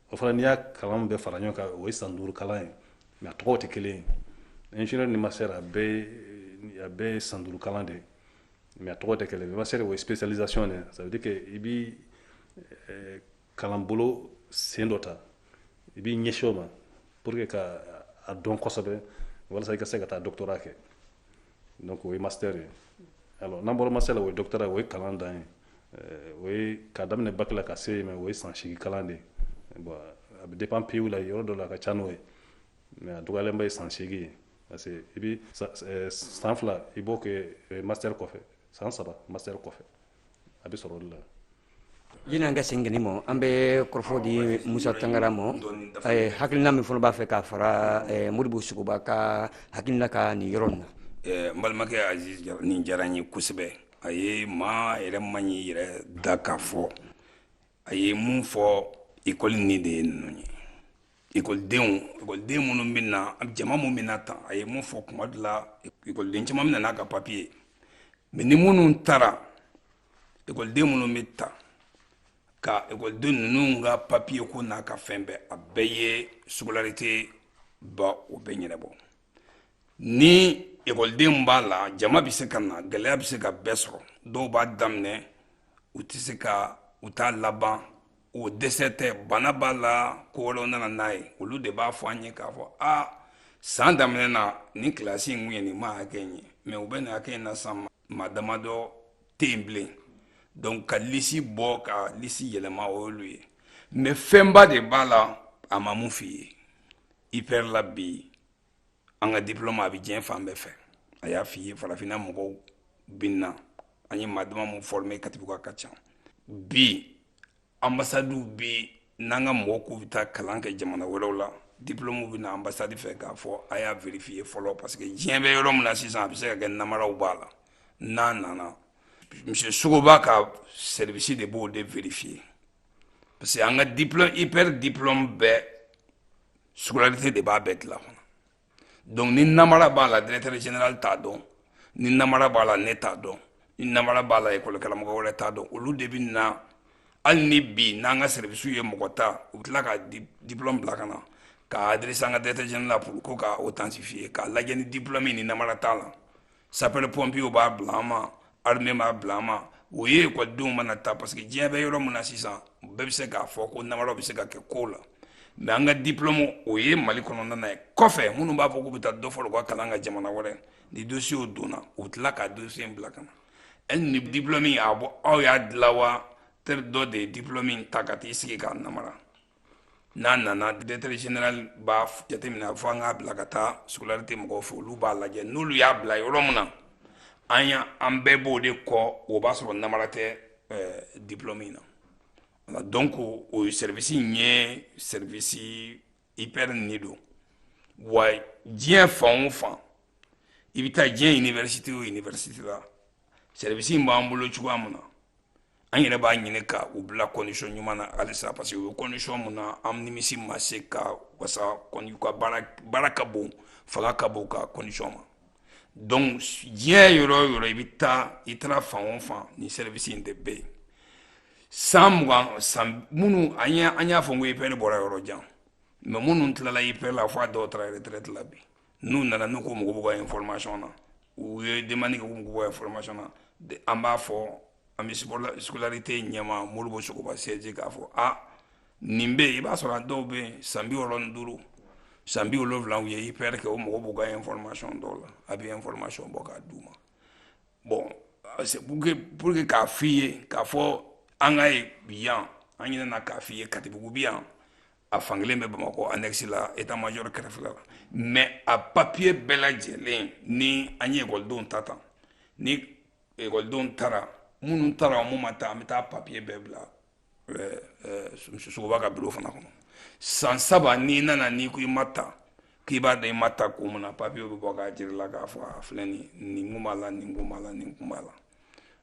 o fana n'i y'a kalan bɛɛ fara ɲɔgɔn kan o ye san duuru kalan ye mais a tɔgɔw tɛ kelen ye ingénieur ni master a bɛɛ ye a bɛɛ ye san duuru kalan de ye mais a tɔgɔ tɛ kelen ye master o ye spécialisation de ye ça veut dire que i bɛ eh, kalanbolo sen dɔ ta i b'i ɲɛsin o ma pour que ka a dɔn kosɛbɛ walasa i ka se ka taa doctorat kɛ donc o ye master ye alors n'an bɔra master la o ye doctorat o ye kalan dan ye euh, o ye k'a daminɛ bac la ka se yen mais o ye san seegin kalan de ye bon a bɛ dépend pays la yɔrɔ dɔ la a ka ca n'o ye mais a dɔgɔyalenba ye san seegin ye parce que i bɛ san fila i b'o kɛ euh, master kɔfɛ san saba master kɔfɛ a bɛ sɔrɔ o de la yanni an ka se kelen ma an bɛ kɔrɔfɔ di musa tangara ma hakilina min fana b'a fɛ k'a fara modibo sogoba ka hakilina kan nin yɔrɔ in na n balimakɛ aziz nin diyara n ye kosɛbɛ a ye maa yɛrɛ man ɲi yɛrɛ da k'a fɔ a ye mun fɔ ekɔli ni de ye ninnu ye ekɔliden minnu bɛ na jama minnu bɛ na tan a ye mun fɔ kuma dɔ la ekɔliden caman bɛ na n'a ka papiye ye mais ni minnu taara ekɔliden minnu bɛ ta ka ekɔliden ninnu ka papiye ko n'a ka fɛn bɛɛ a bɛɛ ye scolarité ba o bɛɛ ɲɛnabɔ ni ekɔliden b'a la jama bɛ se ka na gɛlɛya bɛ se ka bɛɛ sɔrɔ dɔw b'a daminɛ u tɛ se ka u t'a laban o dɛsɛ tɛ bana b'a la ko wɛrɛw nana n'a ye olu de b'a fɔ an ye k'a fɔ a san daminɛ na nin kilasi in tun ye nin maa hakɛ in ye mais u bɛ nin hakɛ in na san maa damadɔ tɛ yen bilen donc ka lisi bɔ ka lisi yɛlɛma o y'olu ye mais fɛnba de b'a la a ma mun f'i ye ipr la bi an ka diplôme a bɛ diɲɛ fan bɛɛ fɛ a y'a f'i ye farafinna mɔgɔw bɛ na an ye maa dama mun former katibugu ka ca bi anbasadiw bɛ n'an ka mɔgɔw k'u bɛ taa kalan kɛ jamana wɛrɛw la diplôme bɛ na anbasadi fɛ k'a fɔ a y'a vérifier fɔlɔ parce que diɲɛ bɛ yɔrɔ min na sisan a bɛ se ka kɛ namaraw b'a la n'a nana monsieur Sogoba ka service de b'o de vérifier parce que an ka diplôme ipr diplôme bɛɛ scolarité de b'a bɛɛ dilan fana donc ni namara b'a la directeur général t'a dɔn ni namara b'a la ne t'a dɔn ni namara b'a la école karamɔgɔ wɛrɛ t'a dɔn olu de bɛ na hali ni bi n'an ka service ye mɔgɔ ta u bɛ tila ka diplôme bila ka na k'a adresser an ka directeur général la pour ko ka authentifier k'a lajɛ ni diplôme ni namara t'a la sapeur pompier b'a bila an ma armée b'a bila an ma o ye ekɔlidenw mana taa parce que diɲɛ bɛ yɔrɔ min na sisan bɛɛ bɛ se k'a fɔ ko namara bɛ se ka kɛ kow la mais an ka diplɔmu o ye mali kɔnɔna na ye kɔfɛ minnu b'a fɔ k'u bɛ taa dɔ fara u ka kalan kan jamana wɛrɛ ni dosiyew donna u tila ka dosiye bila ka na e ni diplɔmi a bɔ aw y'a dilan wa teri dɔ de ye diplɔmi ta ka t'i sigi k'a namara n'a nana directeur général b'a jateminɛ fo an k'a bila ka taa scolarité mɔgɔw fɛ olu b'a lajɛ n'olu y'a bila yɔrɔ min na an ya an bɛɛ b'o de kɔ o b'a sɔrɔ namara tɛ euh, diplôme in na donc o service in ye service ipr ni don wa diɲɛ fan o fan i bɛ taa diɲɛ université o université la service in b'an bolo cogoya min na an yɛrɛ b'a ɲini ka u bila condition ɲuman na halisa parce que u bɛ condition min na an nimisi ma se ka wasa ka baara ka bon fanga ka bon ka condition ma donc diɲɛ yɔrɔ o yɔrɔ i bɛ taa i taara fan o fan ni service in de bɛ yen san mugan san minnu an an y'a fɔ ko IPR bɔra yɔrɔ jan mais minnu tilala IPR la fo a dɔw taara retraite la bi n'u nana n'u ko u mago b'u ka information na u ye demande kɛ k'u mago b'u ka information na an b'a fɔ an bɛ scolarité ɲɛmaa Modibo Sogoba CSG k'a fɔ a nin bɛ yen i b'a sɔrɔ a dɔw bɛ yen san bi wɔɔrɔ ni duuru san bi wolonwula u ye IPR kɛ u mago b'u ka information dɔw la a bɛ information bɔ k'a d'u ma bon c'est pour que pour que k'a f'i ye k'a fɔ an ka ye yan an ɲinɛna k'a f'i ye Katibugu bɛ yan a fankelen bɛ Bamakɔ annexe la état-major kɛrɛfɛ la mais a papier bɛɛ lajɛlen ni an ye ekɔlidenw ta tan ni ekɔlidenw tara minnu tara minnu ma ta an bɛ taa papier bɛɛ bila Sogoba ka bureau fana kɔnɔ san saba n'i nana n'i ko i ma ta k'i b'a dɔn i ma ta ko munna papier bɛ bɔ k'a jira i la k'a fɔ a filɛ nin nin kun b'a la nin kun b'a la nin kun b'a la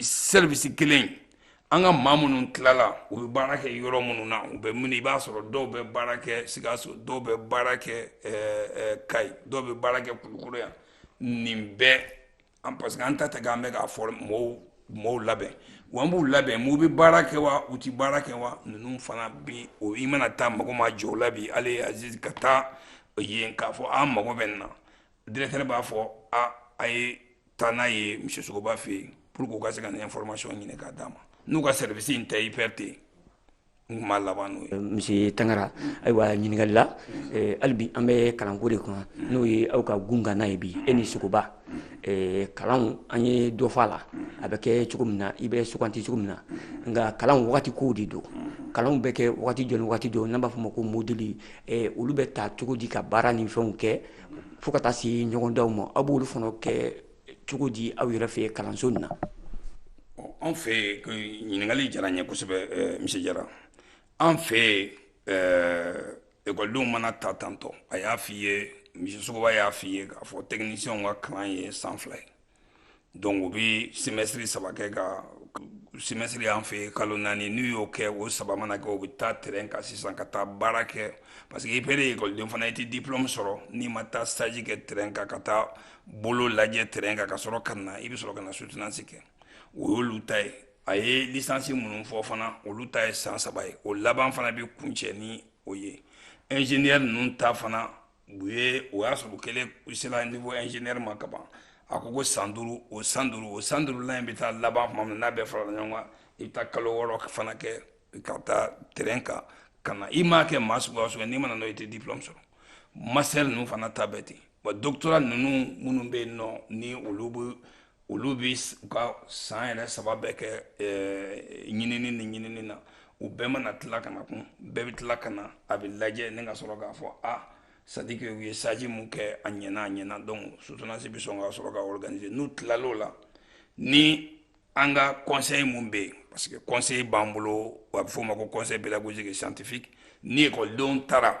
service kelen an ka maa minnu tilala u bɛ baara kɛ yɔrɔ minnu na u bɛ min i b'a sɔrɔ dɔw bɛ baara kɛ Sikaso dɔw bɛ baara kɛ Kayi dɔw bɛ baara kɛ Kulukɔrɔ yan nin bɛɛ an parce que an ta tɛ k'an bɛ k'a fɔ mɔgɔw mɔgɔw labɛn wa an b'u labɛn n'u bɛ baara kɛ wa u tɛ baara kɛ wa ninnu fana bi o i mana taa mago ma jɔ o la bi ale ka taa yen k'a fɔ an mago bɛ nin na Directeur b'a fɔ a a ye taa n'a ye monsieur Sogoba fɛ yen pour que u ka se ka nin information ɲini k'a d'a ma n'u ka service in tɛ IPR tɛ yen n tun b'a laban n'o ye. Monsieur Tangara ayiwa ɲininkali la hali bi an bɛ kalanko de kan n'o ye aw ka kunkan ye bi e ni Sogoba kalanw an ye dɔ fɔ a la a bɛ kɛ cogo min na i bɛ sugandi cogo min na nka kalan wagati kow de don kalanw bɛ kɛ wagati jɔn ni wagati jɔn n'an b'a fɔ o ma ko module olu bɛ ta cogo di ka baara ni fɛnw kɛ fo ka taa se ɲɔgɔndanw ma aw b'olu fana kɛ cogo di aw yɛrɛ fɛ kalanso nin na an fɛ ɲininkali diyara n ye kosɛbɛ eh, monsieur Jara an fɛ eh, ekɔlidenw mana ta tantôt a y'a fɔ i ye monsieur Sogoba y'a fɔ i ye k'a fɔ technicienw ka kalan ye san fila ye Donc u bɛ semestre saba kɛ ka semestre y'an fɛ kalo naani n'u y'o kɛ o saba mana kɛ u bɛ taa terrain kan sisan ka taa baara kɛ parce que IPR ekɔliden fana i tɛ diplôme sɔrɔ n'i ma taa stage kɛ terrain kan ka taa bolo lajɛ terrain kan ka sɔrɔ ka na i bɛ sɔrɔ ka na soutenance kɛ o y'olu ta ye a ye licence minnu fɔ fana olu ta ye san saba ye o laban fana bɛ kuncɛ ni o ye ingénieur ninnu ta fana u ye o y'a sɔrɔ u kɛlen u sera niveau ingénieur ma ka ban a ko ko san duuru o san duuru o san duurulan in bɛ taa laban tuma min n'a bɛɛ farala ɲɔgɔn kan i bɛ taa kalo wɔɔrɔ fana kɛ ka taa terrain kan ka na i m'a kɛ maa suguya o suguya n'i ma na n'o i tɛ diplôme sɔrɔ master ninnu fana ta bɛ ten wa doctorat ninnu minnu bɛ yen nɔ ni olu bɛ olu bɛ u ka san yɛrɛ saba bɛɛ kɛ ɲinini ni ɲinini na u bɛɛ mana tila ka na kun bɛɛ bɛ tila ka na a bɛ lajɛ ni ka sɔrɔ k'a fɔ a c'est-à-dire que u ye stage min kɛ a ɲ a ɲɛna donc soutenance bɛ sɔn ka sɔrɔ ka organiser n'u tilal'o la ni an ka conseil mun bɛ yen parce que conseil b'an bolo a bɛ f'o ma ko conseil pédagogique scientifique ni ekɔlidenw taara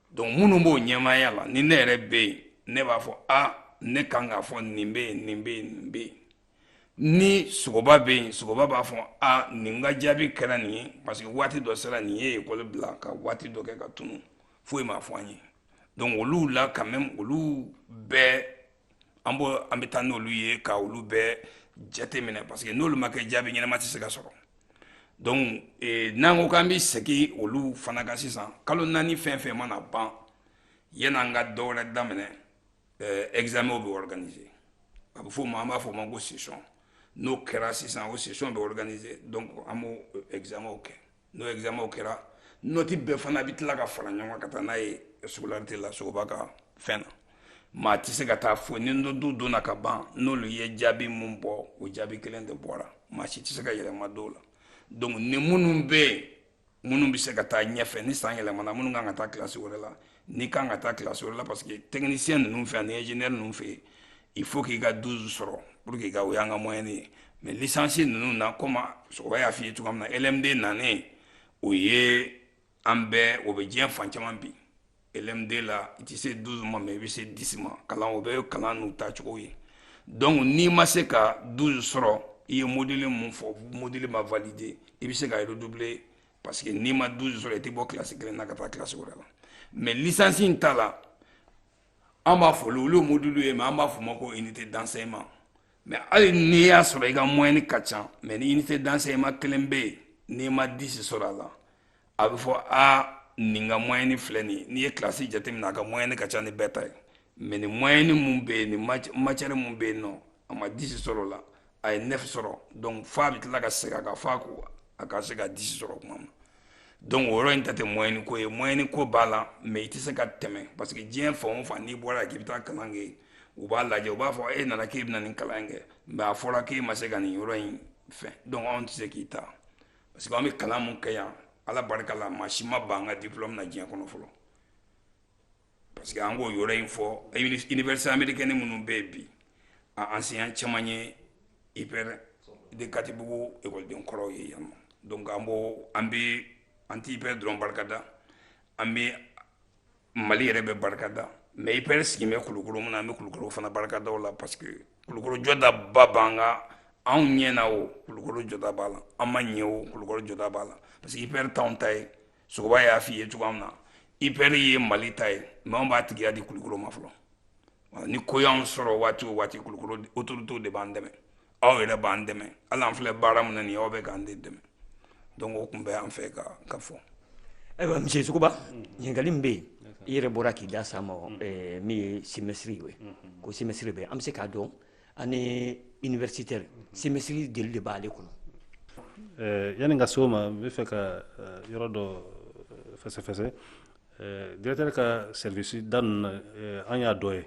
donc minnu b'o ɲɛmaaya la ni ne yɛrɛ bɛ yen ne b'a fɔ a ne kan k'a fɔ nin bɛ yen nin bɛ yen nin bɛ yen ni sogoba bɛ yen sogoba b'a fɔ a nin ka jaabi kɛra nin ye parce que waati dɔ sera nin ye ekɔli bila ka waati dɔ kɛ ka tunu foyi ma fɔ an ye donc olu la quand même olu bɛɛ an b' an bɛ taa n'olu ye ka olu bɛɛ jate minɛ parce que n'olu ma kɛ jaabi ɲɛnama tɛ se ka sɔrɔ donc eh, n'an ko k'an bɛ segin olu fana kan sisan kalo naani fɛn fɛn mana ban yan'an ka dɔwɛrɛ daminɛ eh, examen bɛ organiser a bɛ fɔ o ma an b'a fɔ o ma ko session n'o kɛra sisan o session bɛ organiser donc an b'o eh, examen kɛ n'o examen kɛra nɔti bɛɛ fana bɛ tila ka fara ɲɔgɔn ka taa n'a ye scolarité la sogoba ka fɛn na maa tɛ se ka taa foyi ni nɔtiw donna ka ban n'olu ye jaabi mun bɔ o jaabi kelen de bɔra maa si tɛ se ka yɛlɛma d'o la donc ni minnu bɛ yen minnu bɛ se ka taa ɲɛfɛ ni san yɛlɛmana minnu kan ka taa kilasi wɛrɛ la n'i kan ka taa kilasi wɛrɛ la parce que technicien ninnu fɛ ani ingénieur ninnu fɛ il faut k'i ka 12 sɔrɔ pour que ka o y'an ka moyenne ye mais licence ninnu na comme sogoba y'a f'i ye cogoya min na LMD nanen o ye an bɛɛ o bɛ diɲɛ fan caman bi LMD la i tɛ se 12 ma mais i bɛ se 10 ma kalan o bɛ kalan n'u taacogo ye donc n'i ma se ka 12 sɔrɔ i ye module mun fɔ module ma valider i bɛ se ka redoubler parce que n'i ma 12 sɔrɔ i tɛ bɔ kilasi kelen na ka taa kilasi wɛrɛ la mais licence in ta la an b'a fɔ olu ye module ye mais an b'a fɔ ma ko unité d'enseignement mais hali n'i y'a sɔrɔ i ka moyenne ka ca mais ni unité d'enseignement kelen bɛ yen n'i ma 10 sɔrɔ a la a bɛ fɔ aa nin ka moyenne filɛ nin ye n'i ye kilasi jateminɛ a ka moyenne ka ca ni bɛɛ ta ye mais nin moyenne mun bɛ yen nin matière mun bɛ yen nɔ a ma 10 sɔrɔ o la a ye 9 sɔrɔ donc f'a bɛ tila ka segin a kan fo a ka se ka 10 sɔrɔ tuma min donc o yɔrɔ in ta tɛ moyenne ko ye moyenne ko b'a la mais i tɛ se ka tɛmɛ parce que diɲɛ fan o fan n'i bɔra k'i bɛ taa kalan kɛ yen u b'a lajɛ u b'a fɔ e nana k'i bɛna nin kalan kɛ mais a fɔra k'i ma se ka nin yɔrɔ in fɛn donc anw tɛ se k'i ta parce que an bɛ kalan min kɛ yan ala barika la maa si ma ban an ka diplôme na diɲɛ kɔnɔ fɔlɔ parce que an k'o yɔrɔ in fɔ université américaine minnu bɛ yen bi a enseignant caman ye ipr de katibugu ekɔliden kɔrɔw ye yan nɔ donc an b'o an bɛ an tɛ ipr dɔrɔn barika da an bɛ mali yɛrɛ bɛ barika da mais ipr sigilen bɛ kulukoro min na an bɛ kulukoro fana barika da o la parce que kulukoro jɔdaba b'an kan anw ɲɛna o kulukoro jɔda b'a la an ma ɲɛ o kulukoro jɔda b'a la parce que ipr t'anw ta ye sogoba y'a f'i ye cogoya min na ipr ye mali ta ye mais anw b'a tigiya di kulukoro ma fɔlɔ ni ko y'anw sɔrɔ waati o waati kulukoro autorités de b'an dɛmɛ aw yɛrɛ b'an dɛmɛ hali an filɛ baara min na nin ye aw bɛ k'an de dɛmɛ donc o tun bɛ an fɛ ka ka fɔ ayiwa monsieur sogoba ɲininkali min bɛ yen i yɛrɛ bɔra k'i da s'a ma min ye semestre ye ko semestre bɛ an bɛ se k'a dɔn année universitaire semestre jeli de b'ale kɔnɔ eh, yanni n ka se o ma n bɛ fɛ ka eh, yɔrɔ dɔ eh, fɛsɛfɛsɛ directeur ka service da ninnu na an y'a dɔ ye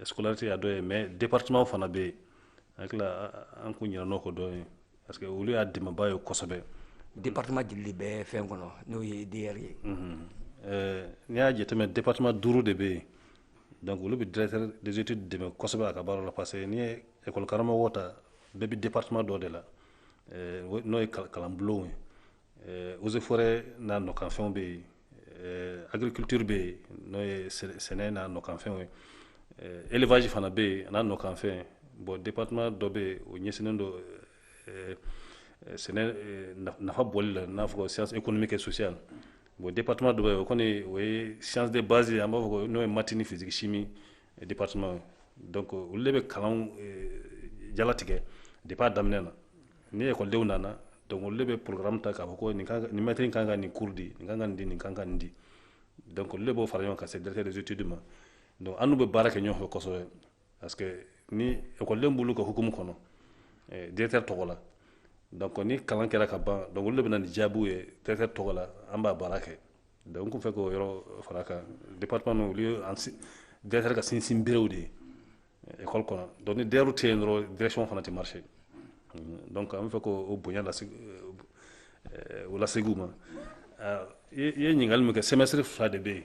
scolarité y'a dɔ ye mais département fana bɛ yen hakili an kun ɲinɛna o kɔ dɔɔni parce que olu y'a dɛmɛbaa ye kosɛbɛ département jeli de bɛ fɛn kɔnɔ n'o ye DER ye mhm. n'i y'a jateminɛ département duuru de bɛ yen donc olu bɛ directeur des études dɛmɛ kosɛbɛ a ka baara la parce que n'i ye école karamɔgɔ ta bɛɛ bɛ département dɔ de la eh, n'o ye kalanbulon ye eh, eaux et forêts n'a nɔkanfɛnw bɛ yen eh, agriculture bɛ yen n'o ye sɛnɛ n'a nɔkanfɛnw ye élevage fana bɛ yen n'a nɔkanfɛn bon département dɔ bɛ yen o ɲɛsinnen don Sɛnɛ nafa bɔ la n'a fɔ sisan e kɔni bɛ kɛ sosoya la bon de patuma dɔ o kɔni o ye sante basi an b'a fɔ n'o ye mati ni fisirisi min de pa olu de bɛ kalan jala tigɛ de b'a daminɛ na ni yekɔdenw nana don bɛ porokararamu ta k'a fɔ nin mari in kan ka nin kurudi nin ka kan di nin kan ka nin di dɔnkili b'o fara ɲɔgɔn ka se dɛsɛɛrɛre deti di ma don an bɛ baara kɛ ɲɔgɔn fɛsɔ ye parce que ni ekɔliden b'olu ka hukumu kɔnɔ eh, directeur tɔgɔ la donc ni kalan kɛra ka ban donc olu de bɛ na ni jaabiw ye directeur tɔgɔ la an b'a baara kɛ donc n tun fɛ k'o yɔrɔ far'a kan département ninnu olu ye an si- directeur ka sinsin berew de ye eh, école kɔnɔ donc ni DER tɛ yen dɔrɔn direction fana tɛ marché Mm, donc an bɛ fɛ k'o o bonya lase eh, o laseg'u ma Ah, i i ye ɲininkali min kɛ semestre fila de bɛ yen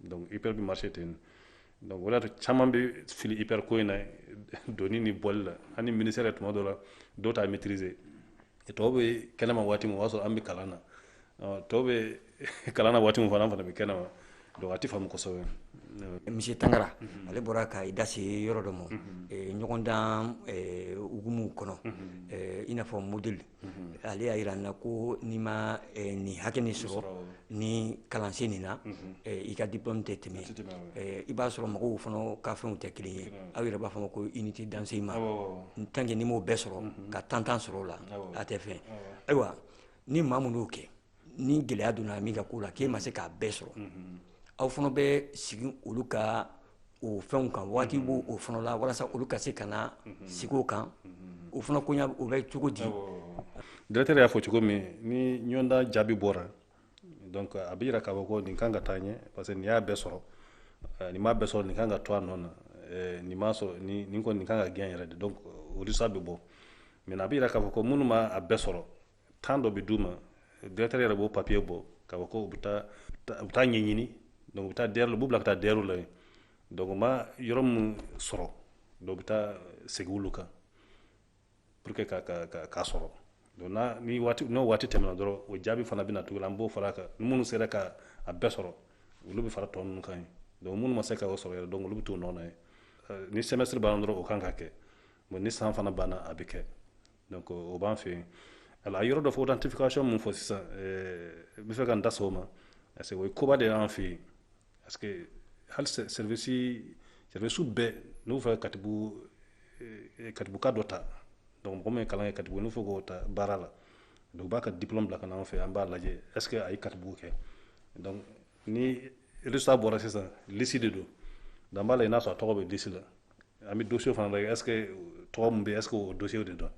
donc ipr bɛ marché ten donc o de y'a to caman bɛ fili ipr ko in na donni ni bɔli la an ni ministère yɛrɛ tuma dɔ la dɔw t'a maîtriser tɔw bɛ kɛnɛma waati min o b'a sɔrɔ an bɛ kalan na tɔw bɛ kalan na waati min fana an fana bɛ kɛnɛma donc a tɛ faamu kosɛbɛ monsieur tangara ale bɔra ka i da se yɔrɔ dɔ ma ɲɔgɔndan hukumu kɔnɔ i n'a fɔ modèle ale y'a yira n na ko n'i ma eh, nin hakɛ nin sɔrɔ ni kalansen nin na mhm. eh, i ka diplôme tɛ tɛmɛ eh, i b'a sɔrɔ mɔgɔw fana ka fɛnw tɛ kelen ye aw yɛrɛ b'a f'a ma ko unité d'enseignement tant que n'i m'o bɛɛ sɔrɔ mhm. ka tan tan sɔrɔ o la a tɛ fɛn ayiwa ni maa minnu y'o kɛ ni gɛlɛya donna min ka ko la k'e ma se k'a bɛɛ sɔrɔ aw fana bɛ sigi olu ka o fɛnw kan waati b'o o fana la walasa olu ka se ka na sigi o kan o fana ko o bɛ cogo di directeur y'a fɔ cogo min ni ɲɔgɔndan jaabi bɔra a bɛ jira k'a fɔ ko nin kan ka taa ɲɛ parce que nin y'a bɛɛ sɔrɔ eh, nin m'a bɛɛ sɔrɔ nin kan ka to a nɔ na eh, nin m'a sɔrɔ nin kɔni nin kan ka gɛn yɛrɛ de donc o résultat bɛ bɔ mais a bɛ jira k'a fɔ ko minnu ma a bɛɛ sɔrɔ temps dɔ bɛ d'u ma directeur yɛrɛ b'o papier bɔ k'a fɔ ko u bɛ taa ɲɛɲini u bɛ taa u b'u bila ka taa DER la yen donc u ma yɔrɔ minnu sɔrɔ donc u bɛ taa segin olu kan pour que k'a sɔrɔ donc ni waati n'o waati tɛmɛna dɔrɔn o jaabi fana bɛna na tugun an b'o fara a kan minnu sera k'a bɛɛ sɔrɔ olu bɛ fara tɔ ninnu kan yen donc minnu ma se k'a sɔrɔ yɛrɛ donc olu bɛ t'u nɔ na yen ni semestre banna dɔrɔn o kan ka kɛ bon ni san fana banna a bɛ kɛ donc o b'an fɛ yen alors a yɔrɔ dɔ fɔ authentification min fɔ sisan n bɛ fɛ ka n da s'o ma parce que o ye koba de y'an fɛ yen parce que hali service service bɛɛ n'u fɛ katibugu katibuguka dɔ ta donc mɔgɔ min ye kalan kɛ katibugu n'u fɛ k'o ta baara la donc u b'a ka diplôme bila ka na an fɛ an b'a lajɛ est ce que a ye katibugu kɛ donc ni résultat bɔra sisan lisi de don donc an b'a lajɛ n'a sɔrɔ a tɔgɔ bɛ lisi la an bɛ dossier fana lajɛ est ce que tɔgɔ min bɛ est ce que o dossier de don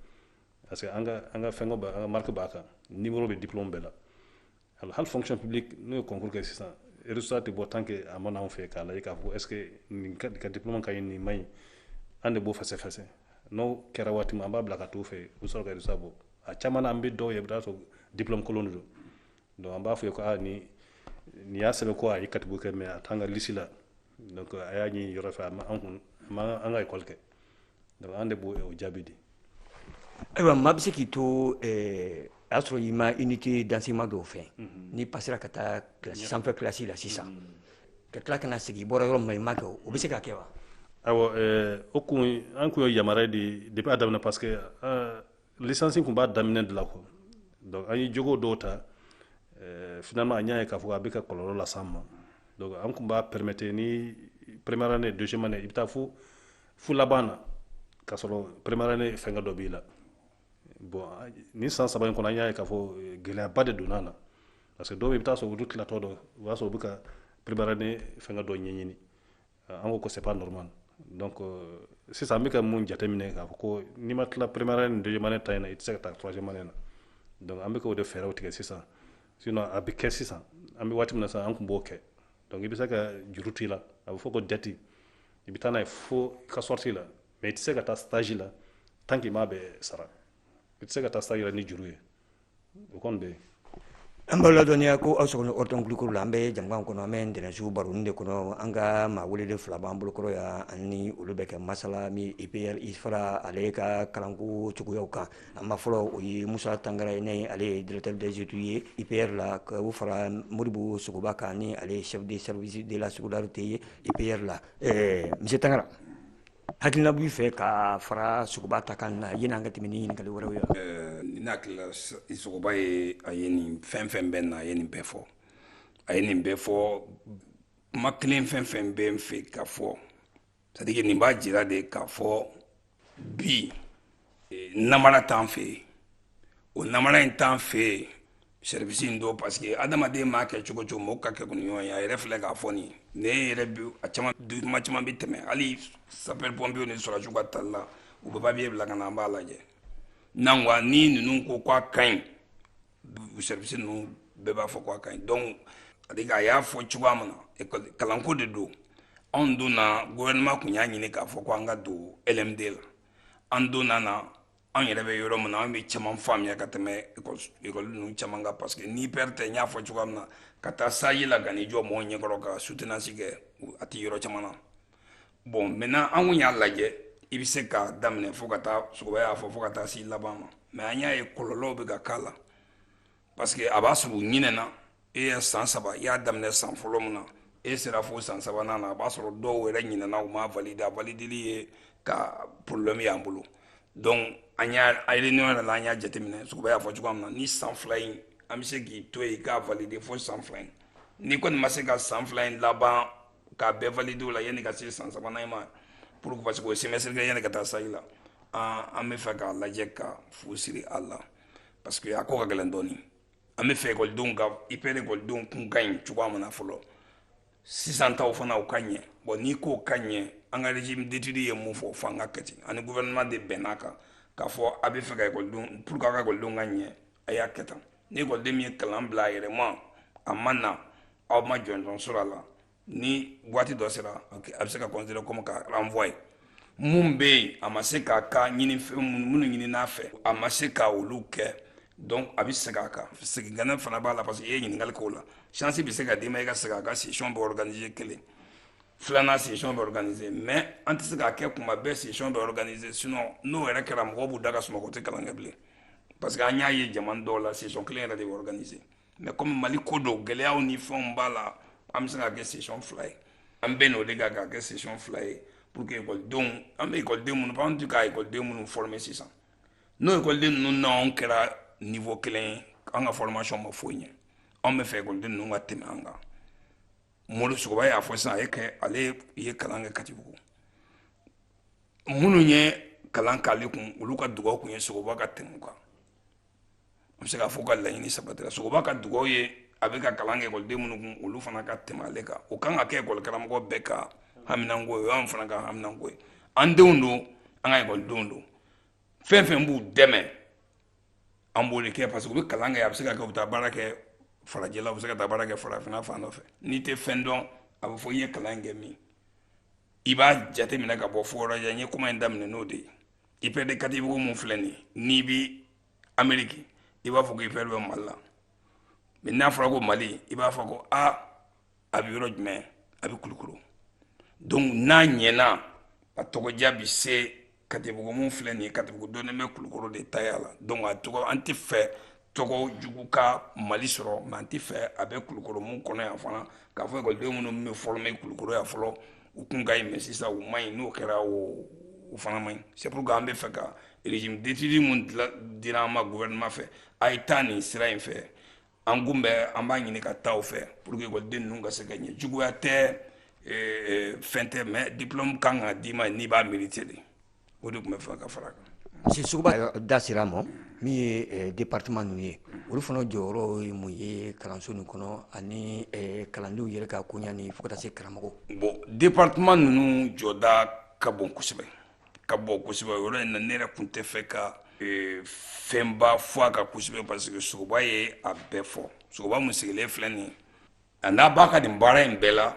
parce que an ka an ka fɛnkɛ b'a an ka marque b'a kan numéro bɛ diplôme bɛɛ la alors hali fonction publique n'u ye concours kɛ sisan résultat tɛ bɔ tant que a ma na anw fɛ k'a lajɛ k'a fɔ est ce que nin ka ka diplôme ka ɲi nin man ɲi an de b'o fɛsɛfɛsɛ n'o kɛra waati min an b'a bila ka t'u fɛ u bɛ sɔrɔ ka résultat bɔ a caman na an bɛ dɔw ye i bɛ taa sɔrɔ diplôme kolon de don donc an b'a f'u ye ko a ni nin y'a sɛbɛn ko a ye katibugu kɛ mais a t'an ka lisi la donc a y'a ɲini yɔrɔ fɛ a ma an kun a ma an ka ekɔli kɛ donc an de b'o o jaabi di ayiwa maa bɛ se k'i to eh, a y'a sɔrɔ i ma unité d'enseignement dɔw fɛ mhm. n'i passera ka taa kilasi sanfɛ kilasi la sisan mhm. ka tila ka na segin i bɔra yɔrɔ min na i ma kɛ o bɛ se ka kɛ wa ayiwa eh, o kun an kun ye yamaruya di depuis a daminɛ parce que eh, licence kun b'a daminɛ de la quoi donc an ye jogo dɔw ta eh, finalement an y'a ye k'a fɔ a bɛ ka kɔlɔlɔ las'an ma donc an kun b'a permettre ni première année deuxième année i bɛ taa fo fo laban na k'a sɔrɔ première année fɛnkɛ dɔ b'i la bon ni san saba in kɔnɔ an y'a ye k'a fɔ eh, gɛlɛyaba de donna a la parce que dɔw bɛ i bɛ taa sɔrɔ olu tilatɔ don o b'a sɔrɔ u bɛ ka première année fɛnkɛ dɔ ɲɛɲini an ko ko c'est pas normal donc euh, sisan an bɛ ka mun jateminɛ k'a fɔ ko n'i ma tila première année ni deuxième année ta in na i tɛ se ka taa troisième année na donc an bɛ k'o de fɛɛrɛw tigɛ sisan sinon a bɛ kɛ sisan an bɛ waati min na sisan an tun b'o kɛ donc i bɛ se ka juru to i la a bɛ fɔ ko dette i bɛ taa n'a ye fo ka sortie la mais i tɛ se ka taa stage la tant que i m'a bɛɛ sara i tɛ se ka taa stage la ni juru ye o kɔni bɛ an b'aw ladɔnniya ko aw sɔgɔlen ortm kulikɔrɔ la an bɛ jɛmukan kɔnɔ an bɛ ntɛnɛnsu baronin de kɔnɔ an ka maa welelen fila b'an bolokɔrɔ yan an ni olu bɛ kɛ masala ni ipr ifra ale ka kalanko cogoyaw kan a maa fɔlɔ o ye musa tangara ye ni ale ye directeur des études ye ipr la ka o fara moribo sogoba kan ni ale ye chef de service de la scolarité ye ipr la ɛɛ monsieur tangara Hakilina b'i fɛ ka fara Sogoba ta kan na yani an ka tɛmɛ ni ɲininkali wɛrɛw ye wa? Ɛɛ ne hakili la Sogoba ye a ye nin fɛn o fɛn bɛ na a ye nin bɛɛ fɔ a ye nin bɛɛ fɔ kuma kelen fɛn o fɛn bɛ n fɛ ka fɔ c'est à dire que nin b'a jira de k'a fɔ bi namara t'an fɛ yen o namara in t'an fɛ yen service in don parce que adamaden m'a kɛ cogo cogo mɔgɔ ka kɛ kun ɲɔgɔn ye a yɛrɛ filɛ k'a fɔ nin ne yɛrɛ bi a caman diplôme caman bɛ tɛmɛ hali sapeur pompierw ni sɔrɔsiw ka tali la u bɛ papier bila ka na an b'a lajɛ n'an ko ni ninnu ko k'a ka ɲi service ninnu bɛɛ b'a fɔ k'a ka ɲi donc a y'a fɔ cogoya min na kalanko de don anw donna gouvernement kun y'a ɲini k'a fɔ ko an ka don LMD la an donna na an yɛrɛ bɛ yɔrɔ min na an bɛ caman faamuya ka tɛmɛ ekɔli ninnu caman kan parce que ni ipr tɛ n y'a fɔ cogoya min na ka taa stage la ka n'i jɔ mɔgɔw ɲɛkɔrɔ ka soutenance kɛ a tɛ yɔrɔ caman na bon maintenant an kun y'a lajɛ i bɛ se k'a daminɛ fo ka taa sogoba y'a fɔ fo ka taa s'i laban ma mais an y'a ye kɔlɔlɔw bɛ ka k'a la Parce que a b'a sɔrɔ u ɲinɛna e ye san saba i y'a daminɛ san fɔlɔ min na e sera fo san sabanan na a b'a sɔrɔ dɔw yɛrɛ ɲinɛna u m'a valider a valideli ye ka problème y'an bolo donc an y'a réunion yɛrɛ la an y'a jateminɛ Sogoba y'a fɔ cogoya min na ni san fila in an bɛ se k'i to yen k'a valider fo san fila in n'i kɔni ma se ka san fila in laban k'a bɛɛ valider o la yanni ka se san sabanan in ma pour que parce que o ye semestre kelen yanni ka taa stage la an bɛ fɛ k'a lajɛ ka fu siri a la. parce que a ko ka gɛlɛn dɔɔni an bɛ fɛ ekɔlidenw ka ipr ekɔlidenw kun ka ɲi cogoya min na fɔlɔ sisan taw fana u ka ɲɛ bon n'i k'o ka ɲɛ an ka régime d'étude ye min fɔ fo an k'a kɛ ten an ni gouvernement de bɛnn'a kan k'a fɔ a bɛ fɛ ka ekɔlidenw pour que a ka ekɔlidenw ka ɲɛ a y'a kɛ tan ni ekɔliden min ye kalan bila a yɛrɛ ma a ma na aw ma jɔnjɔn sɔrɔ a la ni waati dɔ sera a bɛ se ka considérer comme ka renvoyer mun bɛ yen a ma se k'a ka ɲinifɛn minnu ɲini n'a fɛ a ma se k' olu kɛ donc a bɛ segin a kan segin kan fana b'a la parce que e ye ɲininkakali k'o la chance bɛ se ka d'i ma e ka segin a kan session bɛ organiser kelen filanan session bɛ organiser mais an tɛ se k'a kɛ kuma bɛɛ session bɛ organiser sinon n'o yɛrɛ kɛra mɔgɔw b'u da ka sunɔgɔ u tɛ kalan kɛ bilen parce que an y'a ye jamana dɔw la session kelen yɛrɛ de bɛ organiser mais comme mali ko don gɛlɛyaw ni fɛnw b'a la an bɛ se k'a kɛ session fila ye an bɛnn'o de kan k'a kɛ session fila ye pour que ekɔlidenw an bɛ ekɔliden minnu fɔ an tɛ ka ekɔliden minnu former sisan n'o ekɔliden ninnu n'anw kɛra niveau kelen ye an ka formation ma foyi ɲɛ anw bɛ fɛ ekɔliden ninnu ka tɛmɛ an kan mori sogoba y'a fɔ sisan a ye kɛ ale ye kalan kɛ katibugu minnu ye kalan k'ale kun olu ka dugawu kun ye sogoba ka tɛmɛ u kan an bɛ se k'a fɔ ka laɲini sabatira sogoba ka dugawu ye a bɛ ka kalan kɛ ekɔliden minnu kun olu fana ka tɛmɛ ale kan o kan ka kɛ ekɔlikaramɔgɔ bɛɛ ka haminanko ye o y'an fana ka haminanko ye an denw don an ka ekɔlidenw don fɛn fɛn b'u dɛmɛ an b'o de kɛ parce que u bɛ kalan kɛ a bɛ se ka kɛ u bɛ taa baara kɛ farajɛla u bɛ se ka taa baara kɛ farafinna fan dɔ fɛ n'i tɛ fɛn dɔn a bɛ fɔ i ye kalan kɛ min i b'a jateminɛ ka bɔ fo yɔrɔ jan n ye kuma in daminɛ n'o de ye IPR de katibugu mun filɛ nin n'i bi ameriki i b'a fɔ ko IPR bɛ mali la mais n'a fɔra ko mali i b'a fɔ ko a a bɛ yɔrɔ jumɛn a bɛ kulukoro donc n'a ɲɛna a tɔgɔdiya bi se katibugu mun filɛ nin ye katibugu dɔnnen bɛ kulukoro de taya la donc a tɔgɔ an tɛ fɛ tɔgɔ jugu ka mali sɔrɔ mais an tɛ fɛ a bɛ kulukoro mun kɔnɔ yan fana k'a fɔ ekɔliden minnu bɛ former kulukoro yan fɔlɔ u kun ka ɲi mais sisan u ma ɲi n'o kɛra o fana ma ɲi c'est pourquoi an bɛ fɛ ka régime d'étude mun dira an ma gouvernement fɛ a ye taa nin sira in fɛ an kun bɛ an b'a ɲini ka taa o fɛ pour que ekɔliden ninnu ka se ka ɲɛ juguya tɛ fɛn tɛ mais diplôme kan ka d'i ma n'i b'a mériter de o de tun bɛ fɛ ka fara a kan sogoba da sera ma min ye eh, département ninnu ye olu fana jɔyɔrɔ ye mun ye kalanso nin kɔnɔ ani eh, kalandenw yɛrɛ ka koɲa ni fo ka taa se karamɔgɔ bon département ninnu jɔda ka bon kosɛbɛ ka bon kosɛbɛ yɔrɔ in na ne yɛrɛ tun tɛ fɛ ka eh, fɛnba fɔ a kan kosɛbɛ parce que sogoba ye a bɛɛ fɔ sogoba mun sigilen filɛ nin a ɲa b'a ka nin baara in bɛɛ la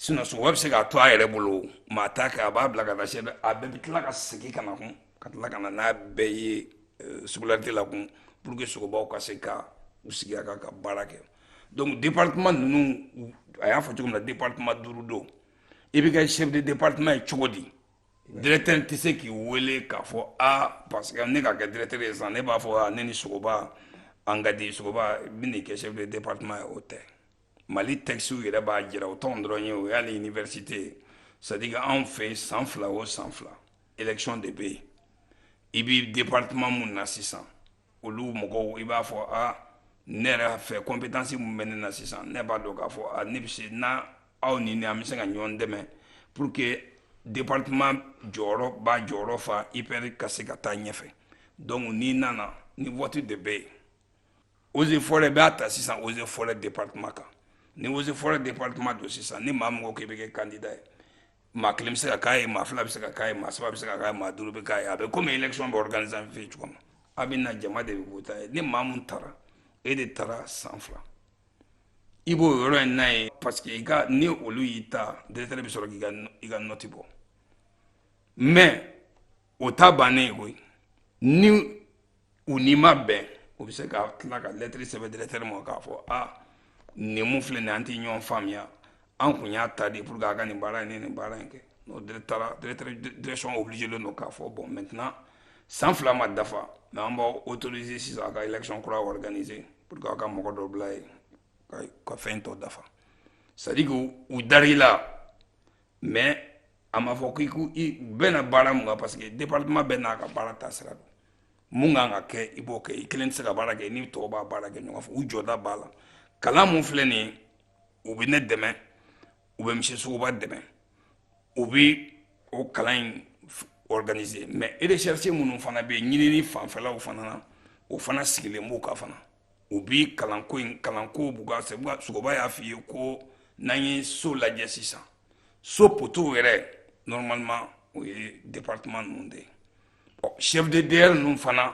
sinon sogoba bɛ se k'a to a yɛrɛ bolo mais a t'a kɛ a b'a bila ka taa chef a bɛɛ bɛ tila ka segin ka na kun ka tila ka na n'a bɛɛ ye euh, scolarité la kun pour que sogobaw ka se ka u sigi a kan ka baara kɛ donc département ninnu a y'a fɔ cogo min na département duuru don i bɛ kɛ chef de département ye cogo di directeur tɛ se k'i wele k'a fɔ a parce que ne ka kɛ directeur ye sisan ne b'a fɔ a ne ni sogoba an ka di sogoba bɛn'i kɛ chef de département ye o tɛ mali tɛkisiw yɛrɛ b'a jira o t'an dɔrɔn ye o y'ale iniversite ye c'est à dire que anw fɛ san fila o san fila élection de bɛ yen i bɛ département mun na sisan olu mɔgɔw i b'a fɔ a ne yɛrɛ fɛ compétence mun bɛ ne na sisan ne b'a dɔn k'a fɔ a ne bɛ se na aw ni ne an bɛ se ka ɲɔgɔn dɛmɛ pour que département jɔyɔrɔ b'a jɔyɔrɔ fa IPR ka se ka taa ɲɛfɛ donc n'i nana ni vote de bɛ yen eaux et forêts b'a ta sisan eaux et forêts département kan ni eaux et forêts département don sisan ni maa min ko k'i bɛ kɛ candidat ye maa kelen bɛ se ka k'a ye maa fila bɛ se ka k'a ye maa saba bɛ se ka k'a ye maa duuru bɛ k'a ye a bɛ komi élection bɛ organiser an fɛ yen cogo min a bɛ na jama de bɛ voter ye ni maa min taara e de taara san fila i b'o yɔrɔ in na ye parce que ni olu y'i ta directeur bɛ sɔrɔ k'i ka nɔti bɔ mais o ta bannen ye koyi ni u n'i ma bɛn u bɛ se ka tila ka lɛtiri sɛbɛn directeur ma k'a fɔ a nin mun filɛ nin an tɛ ɲɔgɔn faamuya an kun y'a ta de pour que a ka nin baara in ni nin baara in kɛ n'o taara direction obilijelen don k'a fɔ bon maintenant san fila ma dafa mais an b'aw otorize sisan a ka élection kura organize pour que a ka mɔgɔ dɔ bila yen ka fɛn tɔ dafa c'est à dire que u dar'i la mais a ma fɔ k'i bɛna baara mun kan parce que département bɛɛ n'a ka baara taasira don mun kan ka kɛ i b'o kɛ i kelen tɛ se ka baara kɛ ni tɔw b'a baara kɛ ɲɔgɔn fɛ u jɔda b'a la kalan min filɛ nin u bɛ ne dɛmɛ u bɛ misiye sogoba dɛmɛ u bɛ o kalan in organiser mais recherche minnu fana bɛ yen ɲinini fanfɛlaw fana na o fana sigilen b'u kan fana u bɛ kalanko in kalanko b'u kan sogoba y'a f'i ye ko n'an ye so lajɛ sisan so potow yɛrɛ normalement o ye département ninnu de ye chef de DER ninnu fana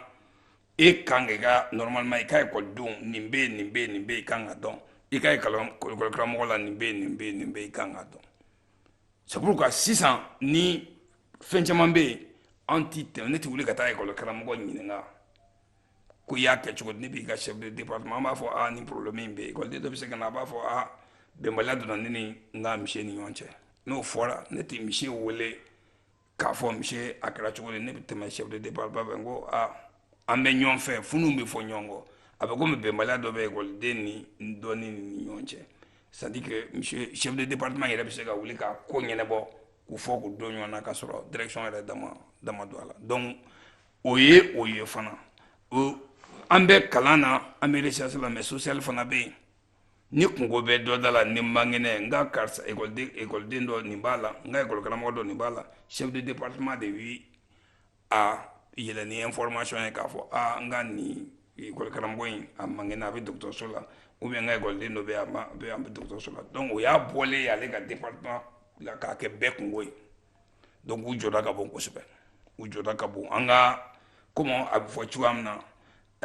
e kan ka i ka normalement i ka ekɔlidenw nin bɛ yen nin bɛ yen nin bɛ yen i kan k'a dɔn i ka ekɔlikaramɔgɔ la nin bɛ yen nin bɛ yen nin bɛ yen i kan k'a dɔn c'est pourquoi sisan ni fɛn caman bɛ yen an tɛ tɛmɛ ne tɛ wuli ka taa ekɔlikaramɔgɔ ɲininka ko i y'a kɛ cogo di ne b'i ka chef de département an b'a fɔ aa ni problème in bɛ yen école den dɔ bɛ se ka na a b'a fɔ aa bɛnbaliya donna ne ni n ka misiye ni ɲɔgɔn cɛ n'o fɔra ne tɛ misiye wele k'a fɔ misiye a kɛra cogo di ne bɛ tɛmɛ chef de département fɛ n ko aa an bɛ ɲɔgɔn fɛ fɛn ninnu bɛ fɔ ɲɔgɔn kɔ a bɛ komi bɛnbaliya dɔ bɛ école den ni dɔ ni ni ɲɔgɔn cɛ c'est à dire que misiye chef de département yɛrɛ bɛ se ka wuli ka ko ɲɛnabɔ k'u fɔ k'u don ɲɔgɔn na k'a sɔrɔ direction yɛrɛ da ma don a la donc o ye o ye fana an bɛ kalan na an bɛ recherche la mɛ social fana bɛ yen ni kunko bɛ dɔ da la n'i man kɛnɛ n ka karisa ekɔliden dɔ nin b'a la n ka ekɔlikaramɔgɔ dɔ nin b'a la chef de département de bi aa yɛlɛ ni information ye k'a fɔ aa n ka nin ekɔlikaramɔgɔ in a man kɛnɛ a bɛ dɔgɔtɔrɔso la ou bien n ka ekɔliden dɔ bɛ bɛ dɔgɔtɔrɔso la donc o y'a bɔlen y'ale ka département la k'a kɛ bɛɛ kunko ye donc u jɔda ka bon kosɛbɛ u jɔda ka bon an ka komi a bɛ fɔ cogoya min na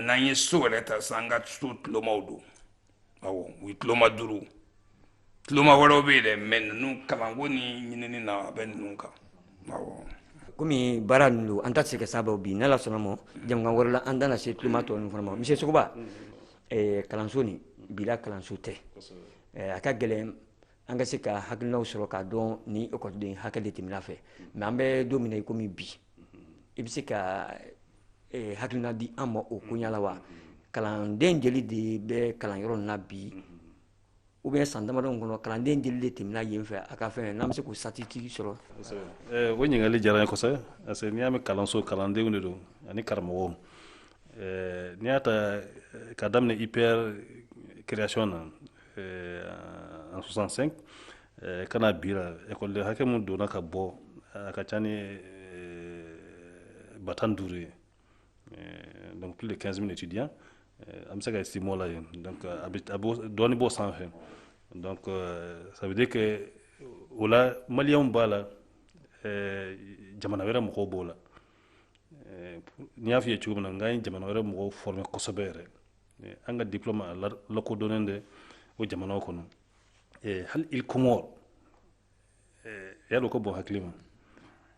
n'an ye so yɛrɛ ta sisan an ka so tulomaw don awɔ u ye tuloma duuru tuloma wɛrɛw bɛ yen dɛ mɛ ninnu kalanko ni ɲinini na a bɛ ninnu kan awɔ komi baara ninnu don an da tɛ se ka s'a bɛɛ bi n'ala sɔnna ma jɛmukan wɛrɛ la an da na se tuloma tɔ ninnu fana ma monsieur sogoba eh, kalanso nin bi la kalanso tɛ eh, a ka gɛlɛn an ka se ka hakilinaw sɔrɔ k'a dɔn ni ekɔliden hakɛ de tɛmɛna a fɛ mɛ an bɛ don min na i komi bi i bɛ se ka eh, hakilina di an ma o koɲa la wa kalanden jeli de bɛ kalanyɔrɔ in na bi ou bien san damadɔw kɔnɔ kalanden jeli de tɛmɛna yen fɛ a ka fɛn n'an bɛ se k'o statistiques sɔrɔ eh, o ɲininkali diyara n ye kosɛbɛ parce que n'i y'a mɛn kalanso kalandenw de don ani karamɔgɔw eh, n'i y'a ta ka daminɛ ipr création na en 65 ka na bi la ekɔliden hakɛ min donna ka bɔ a ka ca ni ba tan duuru ye donc plus de 15 000 étudiants an bɛ se k'estimer o la yen donc a bɛ a b'o dɔɔni b'o sanfɛ donc ça veut dire que o la maliyɛnw b'a la jamana wɛrɛ mɔgɔw b'o la ni n y'a f'i ye cogo min na n k'an ye jamana wɛrɛ mɔgɔw former kosɛbɛ yɛrɛ eh, an ka diplôme a lakodɔnnen de o jamanaw kɔnɔ eh, hali îles comores eh, y'a dɔn ko bon hakili ma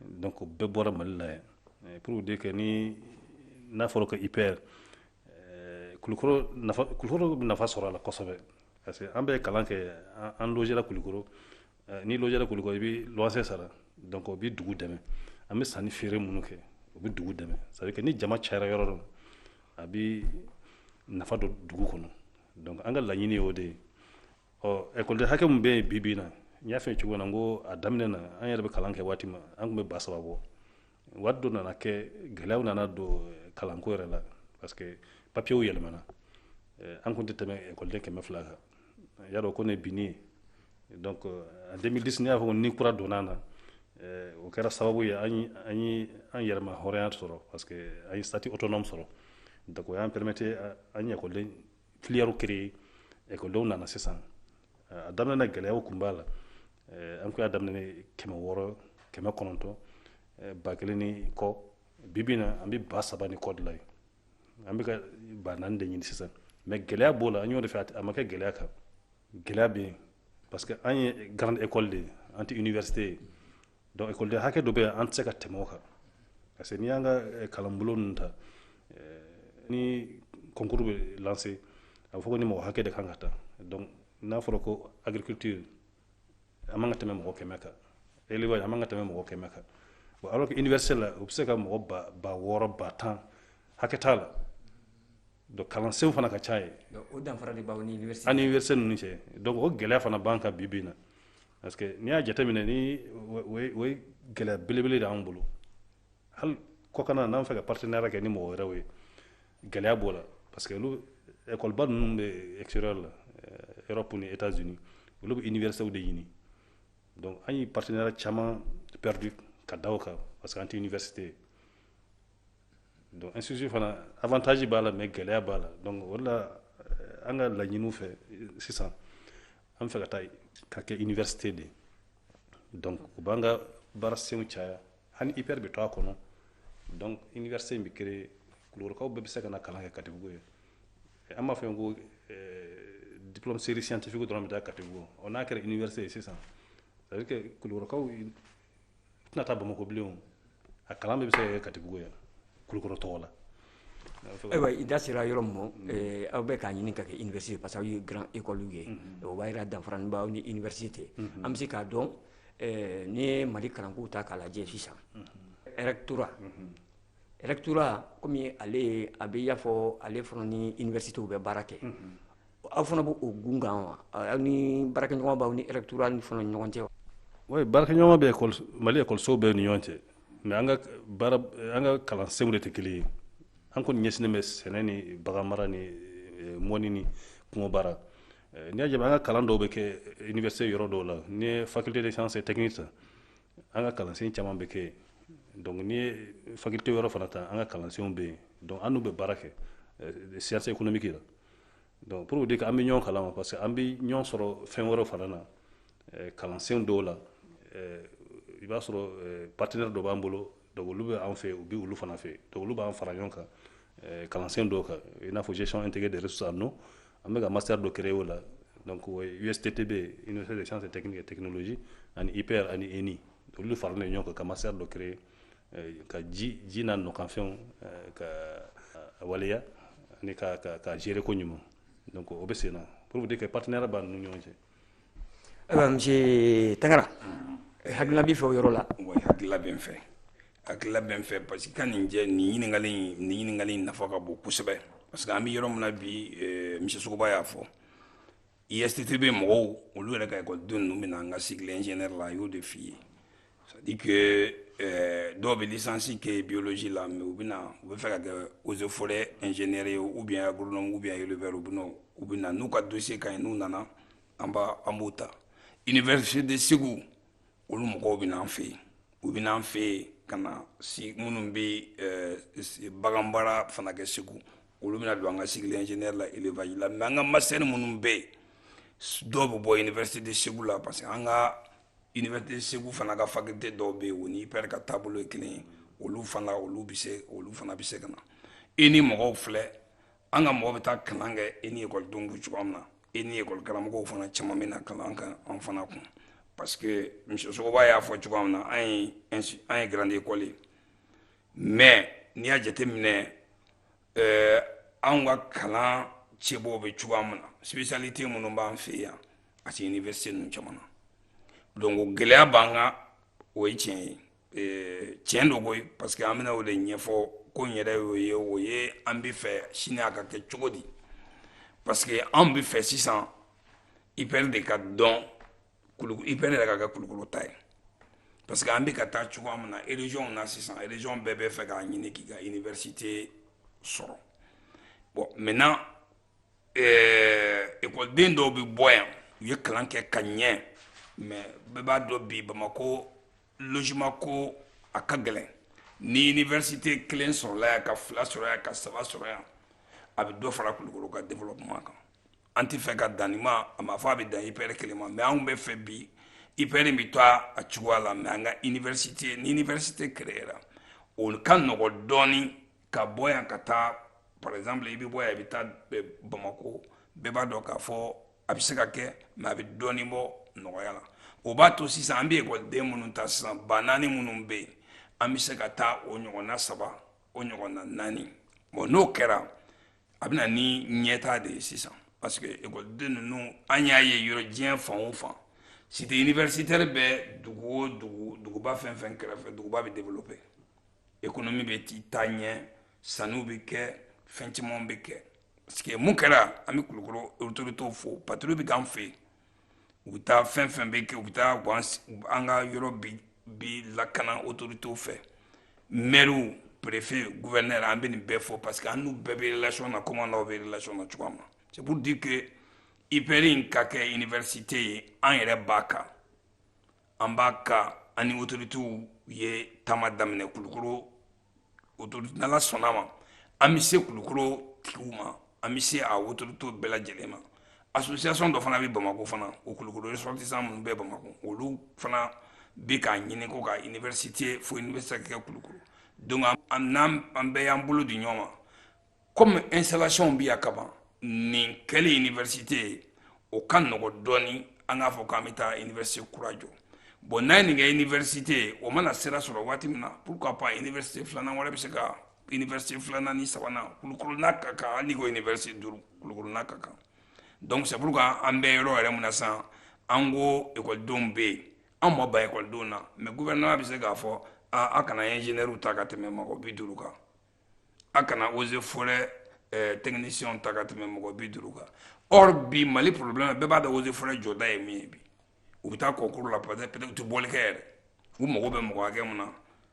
donc bɛɛ bɔra mali la yan pour dire que ni n'a fɔra ko ipr kulukoro nafa kulukoro bɛ nafa sɔrɔ a la kosɛbɛ parce que an bɛ kalan kɛ an logera kulukoro N'i logera kulukoro i bɛ luwanse sara donc o bɛ dugu dɛmɛ an bɛ sannifeere minnu kɛ o bɛ dugu dɛmɛ c'est-à-dire que ni jama cayara yɔrɔ dɔ a bɛ nafa don dugu kɔnɔ donc an ka laɲini ye o de ye ɔ ekɔliden hakɛ min bɛ yen bi bi in na n y'a fɔ cogo min na n ko a daminɛ na an yɛrɛ bɛ kalan kɛ waati min an tun bɛ ba saba bɔ waati dɔ nana kɛ gɛlɛyaw nana don kalanko yɛrɛ la parce que papiyew yɛlɛmana an tun tɛ tɛmɛ ekɔliden kɛmɛ fila kan y'a dɔn k'o ye binni ye donc en 2010 ne y'a fɔ ko ni kura donna an na o kɛra sababu ye an ye an yɛrɛma hɔrɔnya sɔrɔ parce que an ye statut autonome sɔrɔ donc o y'an permettre an ye ekɔliden filière créer école denw nana sisan eh, a daminɛ na gɛlɛyaw kun b'a la eh, an kun y'a daminɛ ni kɛmɛ wɔɔrɔ kɛmɛ kɔnɔntɔn eh, ba kelen ni kɔ bi bi na an bɛ ba saba ni kɔ de la ye an bɛ ka ba naani de ɲini sisan mais gɛlɛya b'o la an y'o de fɛ a tɛ- a ma kɛ gɛlɛya kan gɛlɛya bɛ yen parce que an ye grande école de ye an tɛ université ye donc ekɔliden hakɛ dɔ bɛ yen an tɛ se ka tɛmɛ o kan parce que n'i y'an ka eh, kalanbolo ninnu ta eh, ni concours bɛ lancer a bɛ fɔ ko nin mɔgɔ hakɛ de kan ka ta donc n'a fɔra ko agriculture an man ka tɛmɛ mɔgɔ kɛmɛ kan élevage an man ka tɛmɛ mɔgɔ kɛmɛ kan bon alors que université la u bɛ se ka mɔgɔ ba ba wɔɔrɔ ba tan hakɛ t'a la donc kalansenw fana ka ca yen o danfara de b'an ni université ani université ninnu cɛ donc o gɛlɛya fana b'an kan bi bi in na parce que n'i y'a jateminɛ ni o ye gɛlɛya belebele de y'an bolo hali kɔkana n'an fɛ ka partenariat kɛ ni mɔgɔ wɛrɛw ye gɛlɛya b'o la parce que olu ɛkɔliba ninnu bɛ extérieur la europe ni états unis olu bɛ universitéw de ɲini donc an ye partenariat caman perdu ka da o kan parce que an tɛ université ye donc institut fana avantage b'a la mais gɛlɛya b'a la donc o de la eh, an ka laɲiniw fɛ eh, sisan an fɛ ka taa ka kɛ université de donc o b'an ka baarasenw caya hali IPR bɛ to a kɔnɔ donc université in bɛ créer kulukɔrɔkaw bɛɛ bɛ se ka na kalan kɛ katibugu yen an b'a fɔ yen ko eh, diplôme série scientifique dɔrɔn bɛ taa katibugu ɔ n'a kɛra université ye sisan c'est à dire que kulukɔrɔkaw tɛna taa bamakɔ bilen a kalan bɛɛ bɛ se ka kɛ katibugu yan kulukɔrɔ tɔgɔ la ayiwa i da sera yɔrɔ min ma eh, aw bɛ k'a ɲini ka kɛ université parce que aw ye grande école ye mm-hmm. o b'a jira danfara b'aw ni université mm-hmm. an bɛ se k'a dɔn eh, n'i ye mali kalankow ta k'a lajɛ sisan mm-hmm. rectorat rectorat komi ale a bɛ i y'a fɔ ale fana ni universitéw bɛ baara kɛ aw fana b'o gun kan wa ani baarakɛɲɔgɔnya b'aw ni rectorat ni fana ɲɔgɔn cɛ wa oui baarakɛɲɔgɔnya bɛ mali ekɔlisow bɛɛ ni ɲɔgɔn cɛ mais an ka baara an ka kalansenw de tɛ kelen ye an kɔni ɲɛsinnen bɛ sɛnɛ ni bagan mara ni eh, mɔni ni kungo baara eh, n'i y'a jaabi an ka kalan dɔw bɛ kɛ eh, université yɔrɔ dɔw la n'i ye faculté des sciences et techniques ta an ka kalansen caman bɛ kɛ donc n'i ye faculté yɔrɔ fana ta an ka kalansenw bɛ yen donc an n'u bɛ baara kɛ sciences économiques la donc pour dire que an bɛ ɲɔgɔn kalama parce que an bɛ ɲɔgɔn sɔrɔ fɛn wɛrɛ fana na eh, kalansen dɔw la eh, i b'a sɔrɔ eh, partenaire dɔ b'an bolo donc olu bɛ an fɛ u bɛ olu fana fɛ donc olu b'an fara ɲɔgɔn kan kalansen dɔw kan i n'a fɔ gestion intégrée des ressources en eau an bɛ ka master dɔ créer o la donc USTTB Université des sciences et techniques et technologies ani IPR ani ENI olu faralen ɲɔgɔn kan ka master dɔ créer ka ji ji n'a nɔkanfɛnw ka waleya ani ka ka gérer ko ɲuman donc o bɛ sen na pour dire que partenariat b'an ni ɲɔgɔn cɛ ayiwa monsieur Tangara hakilina b'i fɛ o yɔrɔ la wa hakilila bɛ n fɛ hakilila bɛ n fɛ parce que ka nin jɛ nin ɲininkali in nin ɲininkali in nafa ka bon kosɛbɛ parce que an bɛ yɔrɔ min na bi monsieur Sogoba y'a fɔ USTTB mɔgɔw olu yɛrɛ ka ekɔliden ninnu bɛ na an ka cycle ingénieur la a y'o de f'i ye c'est à dire que euh, dɔw bɛ licence kɛ biologie la mais u bɛna u bɛ fɛ ka kɛ eaux et forêt ingénieur ye ou bien agronome ou bien éleveur u bɛ na u bɛ na n'u ka dossier ka ɲi n'u nana an b'a an b'u ta université de Segu olu mɔgɔw bɛ na an fɛ yen u bɛ na an fɛ yen ka na si minnu bɛ euh, baganbaara fana kɛ Segu olu bɛna don an ka cycle ingénieur la élevage la mais an ka master minnu bɛ yen dɔw bɛ bɔ université de Segu la parce que an ka université de Segu fana ka faculté dɔw bɛ yen o ni IPR ka taabolo ye kelen ye olu fana olu bɛ se olu fana bɛ se ka na ENI mɔgɔw filɛ an ka mɔgɔw bɛ taa kalan kɛ ENI ekɔlidenw bɛ cogoya min na ENI ekɔli karamɔgɔw fana caman bɛ na kalan kɛ an fana kun parce que monsieur Sogoba y'a fɔ cogoya min na an ye an ye grande école ye mais n'i y'a jate minɛ eh, anw ka kalan cɛbɔw bɛ cogoya min na spécialité minnu b'an fɛ yan a tɛ université ninnu caman na donc gɛlɛya b'an kan o ye tiɲɛ ye eh, tiɲɛ don koyi parce que an bɛna o de ɲɛfɔ kun yɛrɛ y'o ye o ye an bɛ fɛ sini a ka kɛ cogo di parce que anw bɛ fɛ sisan IPR de ka dɔn IPR yɛrɛ ka kɛ kulukoro ta ye parce que an bɛ ka taa cogoya min na régionw na sisan région bɛɛ bɛ fɛ k'a ɲini k'i ka université sɔrɔ bon maintenant ekɔliden eh, dɔw bɛ bɔ yan u ye kalan kɛ ka ɲɛ mais bɛɛ b'a dɔn bi bamakɔ logement ko a ka gɛlɛn ni université kelen sɔrɔla yan ka fila sɔrɔ yan ka saba sɔrɔ yan a bɛ dɔ fara kulukoro ka développement kan an tɛ fɛ ka dan nin ma a ma fɔ a bɛ dan IPR kelen ma mais anw bɛ fɛ bi IPR bɛ to a cogoya la mais an ka université ni université créera o ka nɔgɔ dɔɔnin ka bɔ yan ka taa par exemple i bɛ bɔ yan i bɛ taa bamakɔ bɛɛ b'a dɔn k'a fɔ a bɛ se ka kɛ mais a bɛ dɔɔnin bɔ nɔgɔya la o b'a to sisan an bɛ ekɔliden minnu ta sisan ba naani minnu bɛ yen an bɛ se ka taa o ɲɔgɔnna saba o ɲɔgɔnna naani bon n'o kɛra a bɛ na ni ɲɛtaa de ye sisan parce que ekɔliden ninnu an y'a ye yɔrɔ diɲɛ fan o fan cité universitaire bɛ dugu o dugu duguba fɛn fɛn kɛrɛfɛ duguba bɛ développer économie bɛ ti taa ɲɛ sanniw bɛ kɛ fɛn caman bɛ kɛ parce que mun kɛra an bɛ kulukoro autoritéw fo patrouille bɛ k'an fɛ yen u bɛ taa fɛn fɛn bɛ kɛ u bɛ taa an ka yɔrɔ bi lakana autorités fɛ mriw perefe gouverneur an bɛ nin bɛɛ fɔ parce que an n'u bɛɛ bɛ relation na comme an n'aw bɛ relation na cogoya min na c'est pour dire que IPR in ka kɛ université ye an yɛrɛ b'a kan an b'a kan an ni autoritéw ye taama daminɛ kulukoro autorité n'Ala sɔnna ma an bɛ se kulukoro tigiw ma an bɛ se a autorités bɛɛ lajɛlen ma association dɔ fana bɛ bamakɔ fana o kulukoro ressortissants minnu bɛ bamakɔ olu fana bɛ k'a ɲini ko ka université fo université ka kɛ kulukoro donc an bɛɛ y'an bolo di ɲɔgɔn ma kɔmi installationw bɛ yan ka ban nin kɛli iniwɛrisite ye o ka nɔgɔ dɔɔni an k'a fɔ k'an bɛ taa iniwɛrisite kura jɔ bon n'a ye nin kɛ iniwɛrisite ye o mana sira sɔrɔ waati min na pourquoi pas iniwɛrisite filanan wɛrɛ bɛ se ka iniwɛrisite filanan ni sabanan kulukoro n'a ka kan hali n'i ko iniwɛrisite duuru kulukoro n'a ka kan donc c'est pourquoi an bɛ yɔrɔ yɛrɛ min na sisan an ko ekɔlidenw bɛ yen an ma ban ekɔlidenw na mais gouvernement bɛ se k'a fɔ aa a kana ingénieurs ta ka tɛmɛ mɔgɔ bi duuru kan a kana eaux et forêts eh, technicien ta ka tɛmɛ mɔgɔ bi duuru kan or bi mali problème bɛɛ b'a dɔn eaux et forêts jɔda ye min ye bi u bɛ taa concours la peut-être peut-être u tɛ bɔli kɛ yɛrɛ u mago bɛ mɔgɔ hakɛ min na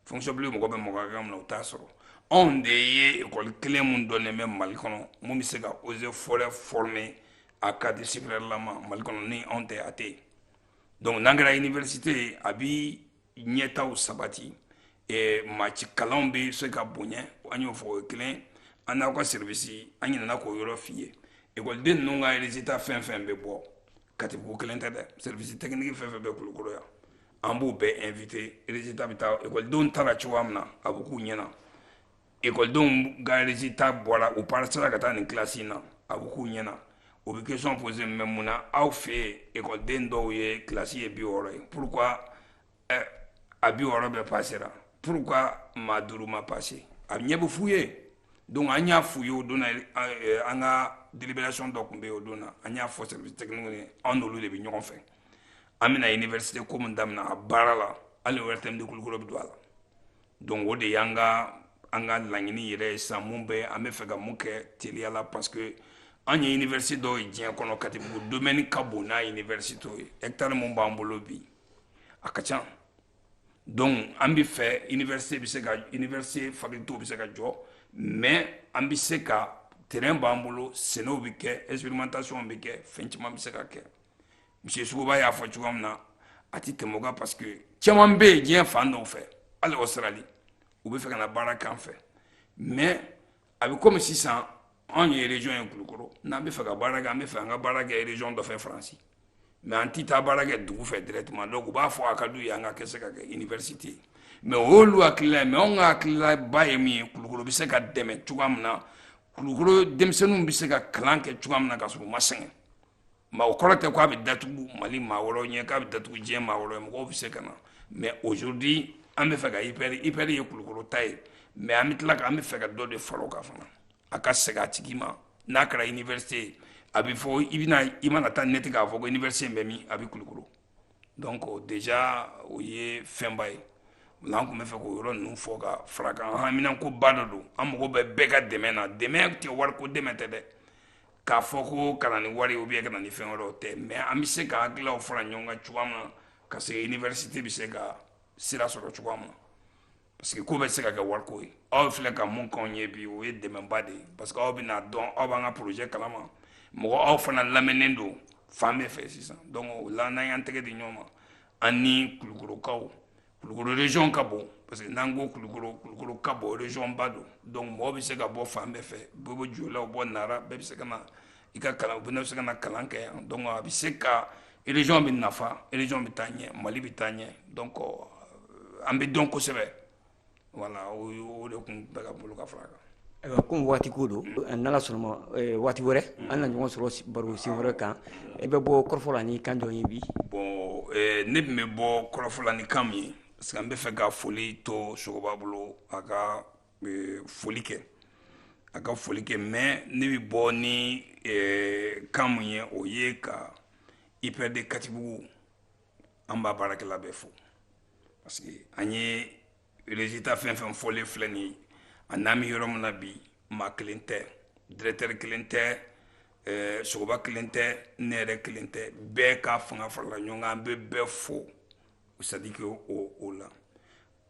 fonction publique mago bɛ mɔgɔ hakɛ min na u t'a sɔrɔ anw de ye ekɔli kelen min dɔnnen bɛ mali kɔnɔ mun bɛ se ka eaux et forêts former a cadre supérieur lama mali kɔnɔ ni anw tɛ a tɛ yen donc n'an kɛra université ye a bi ɲɛtaw sabati eh, maaci kalanw bɛ se ka bonya an y'o fɔ o ye kelen an n'aw ka serivisi an ɲinɛna k'o yɔrɔ f'i ye ekɔliden ninnu ka résultat fɛn fɛn bɛ bɔ katibugu kelen tɛ dɛ serivisi tɛkiniki fɛn fɛn bɛ kulukoro yan an b'u bɛɛ inviter résultat bɛ taa ekɔlidenw tara cogoya min na a bɛ k'u ɲɛna ekɔlidenw ka résultat bɔra u pasera ka taa nin kilasi in na a bɛ k'u ɲɛna o bɛ question poser mais mun na aw fɛ yen ekɔliden dɔw ye kilasi ye bi wɔɔrɔ ye pourquoi a bi wɔɔrɔ bɛɛ pasera pourquoi maa duuru ma pase a ɲɛ bɛ f'u ye donc an y'a f'u ye o don an ka délibération dɔ tun bɛ yen o don na an y'a fɔ service technique ye an n'olu de bɛ ɲɔgɔn fɛ an bɛna université ko min daminɛ a baara la hali ORTM de kulukoro bɛ don a la donc o de y'an ka an ka laɲini yɛrɛ ye sisan mun bɛ an bɛ fɛ ka mun kɛ teliya la parce que an ye université dɔw ye diɲɛ kɔnɔ Katibugu domaine ka bon n'a université ye hectare mun b'an bolo bi a ka ca donc an bɛ fɛ université bɛ se ka université faculté bɛ se ka jɔ mais an bɛ se ka terrain b'an bolo sɛnɛw bɛ kɛ expérimentation bɛ kɛ fɛn caman bɛ se ka kɛ monsieur sogoba y'a fɔ cogoya min na a tɛ tɛmɛ o kan parce que caman bɛ yen diɲɛ fan dɔw fɛ hali australie u bɛ fɛ ka na baara k'an fɛ mais a bɛ komi sisan anw ye région ye kulukoro n'an bɛ fɛ ka baara kɛ an bɛ fɛ an ka baara kɛ région dɔ fɛ faransi mais an tɛ taa baara kɛ dugu fɛ directement donc u b'a fɔ a ka d'u ye an ka kɛ se ka kɛ université ye mais o y'olu hakilila ye mais anw ka hakililaba ye min ye kulukoro bɛ se ka dɛmɛ cogoya min na kulukoro denmisɛnninw bɛ se ka kalan kɛ cogoya min na ka sɔrɔ u ma sɛgɛn mais o kɔrɔ tɛ k'a bɛ datugu mali maa wɛrɛw ɲɛ k'a bɛ datugu diɲɛ maa wɛrɛw mɔgɔw bɛ se ka na mais aujourd'hui an bɛ fɛ ka IPR IPR ye kulukoro ta ye mais an bɛ tila ka an bɛ fɛ ka dɔ de fara o kan fana a ka segin a tigi ma n'a kɛra université ye a bɛ fɔ i bɛna i mana taa neti k'a fɔ ko université bɛ min a bɛ kulukoro donc déjà o ye fɛnba ye an tun bɛ fɛ k'o yɔrɔ ninnu fɔ ka fara kan haminankoba dɔ don an mago bɛ bɛɛ ka dɛmɛ na dɛmɛ tɛ wariko dɛmɛ tɛ dɛ k'a fɔ ko ka na ni wari ou bien ka na ni fɛn wɛrɛ tɛ mais an bɛ se ka hakililaw fara ɲɔgɔn kan cogoya min na ka se université bɛ se ka sira sɔrɔ cogoya min na Parce que ko bɛ se ka kɛ wariko ye aw filɛ ka min k'anw ye bi o ye dɛmɛba de ye parce que aw bɛna dɔn aw b'an ka projet kalama mɔgɔ aw fana lamɛnnen don fan bɛɛ fɛ sisan donc o la n'an y'an tɛgɛ di ɲɔgɔn ma an ni kulukorokaw kulukoro région ka bon parce que n'an ko kulukoro kulukoro ka bon région ba don donc mɔgɔ bɛ se ka bɔ fan bɛɛ fɛ bɔ bɔ joyila bɔ nara bɛɛ bɛ se ka na i ka kalan u bɛ se ka na kalan kɛ yan donc a bɛ se ka région bɛ nafa région bɛ taa ɲɛ Mali bɛ taa ɲɛ donc euh, an bɛ dɔn kosɛbɛ voilà o o de tun bɛ ka bolo ka fara kan. ayiwa komi waati ko don n'ala sɔnna a ma euh, waati wɛrɛ an na ɲɔgɔn sɔrɔ baro sen wɛrɛ kan i bɛ bɔ kɔrɔfɔ la ni kan jɔn ye bi. bon euh, ne tun bɛ bɔ kɔrɔfɔ la ni kan min ye parce que an bɛ fɛ ka foli to sogoba bolo a ka foli kɛ a ka foli kɛ mais ne bɛ bɔ ni kan min ye o ye ka IPR de katibugu an b'a baarakɛla bɛɛ fo parce que an ye résultat fɛn fɛn fɔlen filɛ nin ye ani an bɛ yɔrɔ min na bi maa kelen tɛ directeur kelen tɛ sogoba kelen tɛ ne yɛrɛ kelen tɛ bɛɛ ka fanga farala ɲɔgɔn kan an bɛ bɛɛ fo c'est à dire que o o la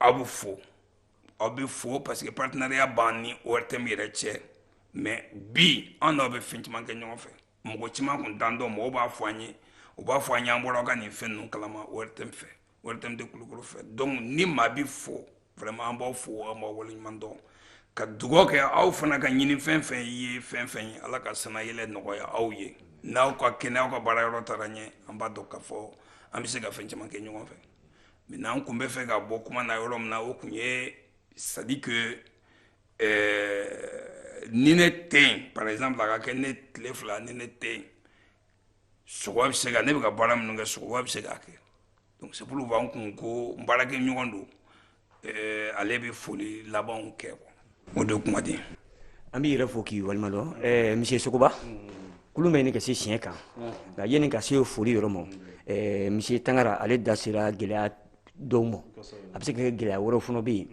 aw bɛ fo aw bɛ fo parce que partenariat b'an ni ORTM yɛrɛ cɛ mais bi an n'aw bɛ fɛn caman kɛ ɲɔgɔn fɛ mɔgɔ caman tun t'an dɔn mɔgɔw b'a fɔ an ye u b'a fɔ an ye an bɔra aw ka nin fɛn ninnu kalama ORTM fɛ ORTM de kulukoro fɛ donc ni maa bɛɛ fo vraiment an b'aw fo an b'aw waleɲuman dɔn ka dugawu kɛ aw fana ka ɲini fɛn fɛn ye fɛn fɛn ye ala ka sannayɛlɛn nɔgɔya aw ye n'aw ka kɛnɛ aw ka baara yɔrɔ taara ɲɛ an b'a dɔn k'a fɔ an bɛ se ka fɛn caman kɛ ɲɔgɔn fɛ Maintenant an kun bɛ fɛ ka bɔ kuma na yɔrɔ min na o kun ye c'est-à-dire que ni ne tɛ yen par exemple a ka kɛ ne tile fila ni ne tɛ yen Sogoba bɛ se ka ne bɛ ka baara minnu kɛ Sogoba bɛ se k'a kɛ donc c'est pourquoi n kun ko n baarakɛ ɲɔgɔn don ale bɛ foli labanw kɛ o de kuma di an b'i yɛrɛ fo k'i waleɲumandɔn ɛɛ monsieur Sogoba kulun bɛ ɲini ka se siɲɛ kan nka yanni ka se foli yɔrɔ ma ɛɛ monsieur Tangara ale da sera gɛlɛya dɔw ma a bɛ se ka kɛ gɛlɛya wɛrɛw fana bɛ yen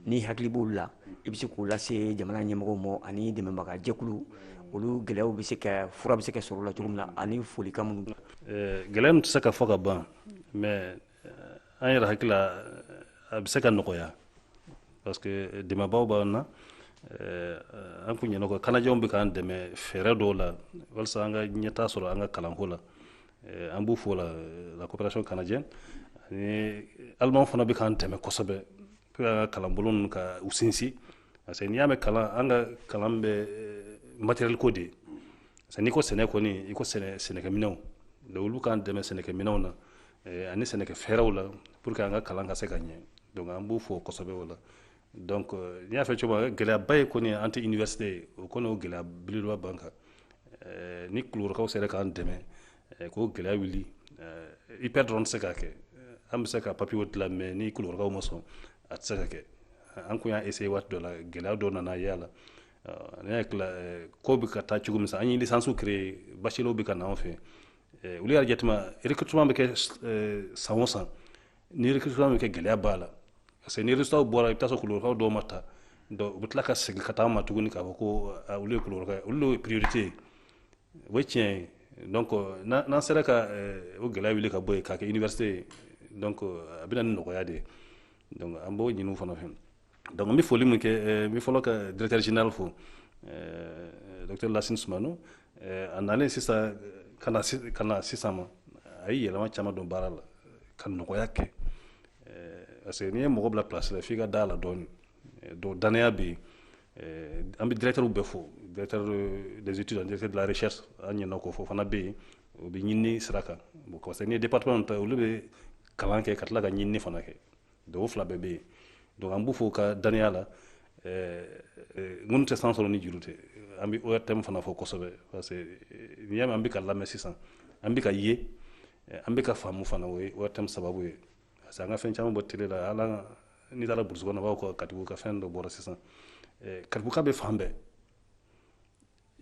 n'i hakili b'olu la i bɛ se k'o lase jamana ɲɛmɔgɔw ma ani dɛmɛbaga jɛkulu olu gɛlɛyaw bɛ se ka fura bɛ se ka sɔrɔ o la cogo min na ani folikan minnu gɛlɛya tɛ se ka fɔ ka ban mais an yɛrɛ hakili la a bɛ se ka nɔgɔya parce que dɛmɛbaaw b'an na eh, an kun ɲinɛna ko canadienw bɛ k'an dɛmɛ fɛɛrɛ dɔw la walisa an ka ɲɛtaa sɔrɔ an ka kalanko la eh, an b'u fo la eh, la coopération canadienne ani alimanw fana bɛ k'an dɛmɛ kosɛbɛ pour an ka kalanbolo ninnu ka u sinsin parce que n'i y'a mɛn kalan an ka kalan bɛ matériel ko de ye parce que n'i ko sɛnɛ kɔni i ko sɛnɛkɛminɛnw donc olu k'an dɛmɛ sɛnɛkɛminɛnw na eh, ani sɛnɛkɛ fɛɛrɛw la pour que an ka kalan ka se ka ɲɛ donc an b'u fo kosɛbɛ o la donc euh, n y'a fɔ cogo min gɛlɛyaba ye kɔni an tɛ université ye o kɔni o gɛlɛya belebeleba b'an kan eh, ni kulukɔrɔkaw sera k'an dɛmɛ eh, k'o gɛlɛya wuli IPR dɔrɔn tɛ se k'a kɛ an bɛ se ka papierw dilan mais ni kulukɔrɔkaw ma sɔn a tɛ se ka kɛ an kun y'a essayer waati dɔ la gɛlɛya dɔ nana ye a la ne hakili la ko bɛ ka taa cogo min sa an ye licence créer bachelierw bɛ ka na anw fɛ olu y'a jateminɛ recrutement bɛ kɛ san o san ni recrutement bɛ kɛ gɛlɛya b'a la parce que ni résultat bɔra i bɛ taa sɔrɔ kulukɔrɔkaw dɔw ma ta donc u bɛ tila ka segin ka taa an ma tuguni k'a fɔ ko olu ye kulukɔrɔkaw ye olu ye priorité ye o ye tiɲɛ ye donc n'an sera ka o gɛlɛya wuli ka bɔ yen k'a kɛ université ye donc a bɛ na ni nɔgɔya de ye donc an b'o ɲini u fana fɛ donc n bɛ foli min kɛ eh, n bɛ fɔlɔ ka directeur général fo eh, docteur Lassine Soumano eh, a nalen sisan ka na ka na sisan ma a ye yɛlɛma caman don baara la ka nɔgɔya kɛ parce que n'i ye mɔgɔ bila place la f'i ka da a la dɔɔnin donc danaya bɛ yen an bɛ directeurs bɛɛ fo directeur des études ani directeur de la recherche an ɲinɛna k'o fɔ fana bɛ yen o bɛ ɲinini sira kan bon parce que n'i ye département ta olu bɛ kalan kɛ ka tila ka ɲinini fana kɛ donc o fila bɛɛ bɛ yen donc an b'u fo u ka danaya la eh, eh, ŋunu tɛ san sɔrɔ ni juru tɛ an bɛ ORTM fana fo kosɛbɛ parce que n'i y'a mɛn an bɛ ka lamɛn sisan an bɛ ka ye eh, an bɛ ka faamu fana o ye ORTM sababu ye parce que an ka fɛn caman bɔ télé la hali n'i taara burusi kɔnɔ u b'a fɔ ko Katibugu ka fɛn dɔ bɔra sisan Katibuguka bɛ fan bɛɛ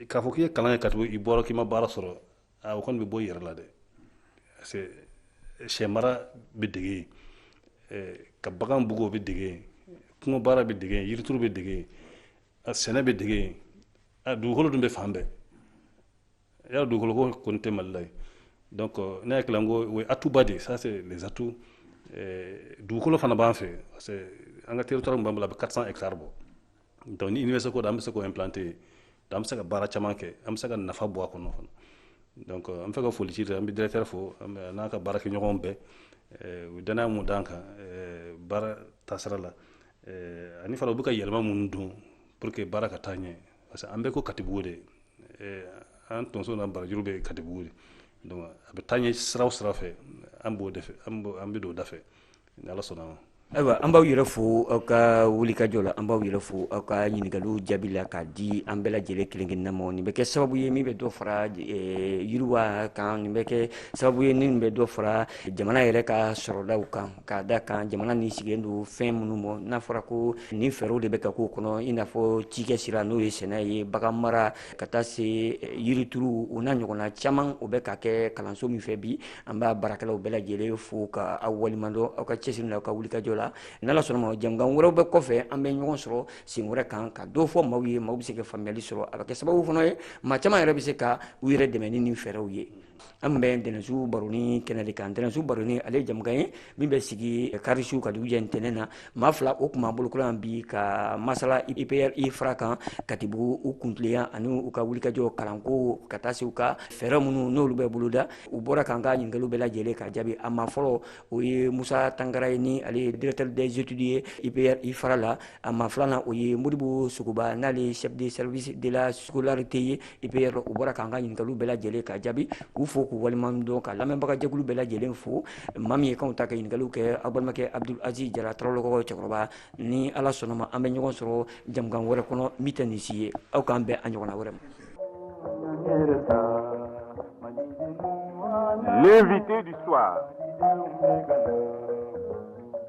k'a fɔ k'i ye kalan kɛ katibugu i bɔra k'i ma baara sɔrɔ a o kɔni bɛ bɔ i yɛrɛ la dɛ parce que eh, sɛ mara bɛ dege yen eh, ka bagan bugu o bɛ dege yen kungo baara bɛ dege yen yirituru bɛ dege yen a sɛnɛ bɛ dege yen a dugukolo dun bɛ fan bɛɛ y'a dugukolo ko kɔni tɛ mali la yen donc eh, ne hakili la n ko o ye atout ba de ye ça c'est les atouts dugukolo fana b'an fɛ parce que an ka territoire min b'an bolo a bɛ 400 hectares bɔ donc ni université ko don an bɛ se k'o implanter yen an bɛ se ka baara caman kɛ an bɛ se ka nafa bɔ a kɔnɔ fana donc an bɛ fɛ ka foli ci an bɛ directeur fo n'a ka baarakɛɲɔgɔnw bɛɛ eh, u danaya min d'an kan eh, baara taasira la eh, ani fana u bɛ ka yɛlɛma minnu don pour que baara ka taa ɲɛ parce que an bɛɛ ko katibugu de an tonso n'an barajuru bɛ katibugu de donc a bɛ taa ɲɛ sira o sira fɛ an b'o de fɛ an bɛ don o da fɛ ayiwa an b'aw yɛrɛ fo aw ka wulikajɔ la an b'aw yɛrɛ fo aw ka ɲininkaliw jaabi la k'a di an bɛɛ lajɛlen kelen kelenna ma nin bɛ kɛ sababu ye min bɛ dɔ fara eh, yiriwa kan nin bɛ kɛ sababu ye min bɛ dɔ fara jamana yɛrɛ ka sɔrɔdaw kan k'a da kan jamana nin sigilen don fɛn minnu ma n'a fɔra ko nin fɛɛrɛw de bɛ ka k'o kɔnɔ i n'a fɔ cikɛ sira n'o ye sɛnɛ ye bagan mara ka taa se eh, yirituru o n'a ɲɔgɔnna caman o bɛ ka kɛ kalanso min fɛ bi an b'a baarakɛlaw bɛɛ lajɛlen fo ka aw waleɲumandɔn aw ka cɛsiri la aw ka wulikajɔ la n'ala sɔnna ma jɛmukan wɛrɛw bɛ kɔfɛ an bɛ ɲɔgɔn sɔrɔ sen wɛrɛ kan ka dɔ fɔ maaw ye maaw bɛ se ka faamuyali sɔrɔ a bɛ kɛ sababu fana ye maa caman yɛrɛ bɛ se ka u yɛrɛ dɛmɛ ni nin fɛɛrɛw ye an bɛ ntɛnɛnsu baroni kɛnɛ de kan ntɛnɛnsu baroni ale ye jɛmukan ye min bɛ sigi karisu ka dugujɛ ntɛnɛn na maa fila o tun b'an bolokɔrɔ yan bi ka masala ipr ifra kan katibugu u kuntileya ani u ka wulikajɔ kalanko ka taa se u ka fɛɛrɛ minnu n'olu bɛ boloda u bɔra k'an ka ɲininkaliw bɛɛ lajɛlen ka jaabi a maa fɔlɔ o ye musa tangara ye ni ale ye directeur des études ye ipr ifra la a maa filanan o ye modibo sogoba n'ale ye chef de service de la scolarité ye IPR u bɔra k'an ka ɲininkaliw bɛɛ lajɛlen ka jaabi k'u fo k'u waleɲumandɔn ka lamɛnbagajɛkulu bɛɛ lajɛlen fo maa min ye kanw ta ka ɲininkaliw kɛ aw balimakɛ Abdul Aziz Jara Tarawele kɔrɔ cɛkɔrɔba ni Ala sɔnna ma an bɛ ɲɔgɔn sɔrɔ jɛmukan wɛrɛ kɔnɔ min tɛ nin si ye aw k'an bɛn a ɲɔgɔnna wɛrɛ ma. L'invité du soir.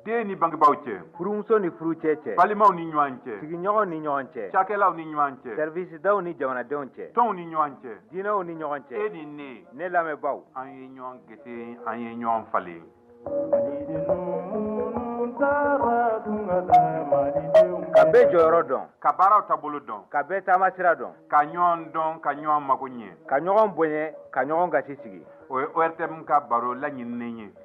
den ni bangebaaw cɛ furumuso ni furucɛ cɛ balimaw ni ɲɔgɔn cɛ sigiɲɔgɔnw ni ɲɔgɔn cɛ cakɛlaw ni ɲɔgɔn cɛ sɛrivisidaw ni jamanadenw cɛ tɔnw ni ɲɔgɔn cɛ diinɛw ni ɲɔgɔn cɛ e ni ne ne lamɛnbaaw an ye ɲɔgɔn gese an ye ɲɔgɔn falen ka bɛɛ jɔyɔrɔ dɔn ka baaraw taabolo dɔn ka bɛɛ taamasira dɔn ka ɲɔgɔn dɔn ka ɲɔgɔn mago ɲɛ ka ɲɔgɔn bonya ka ɲɔgɔn gasi sigi o ye ortm ka baro laɲininen ye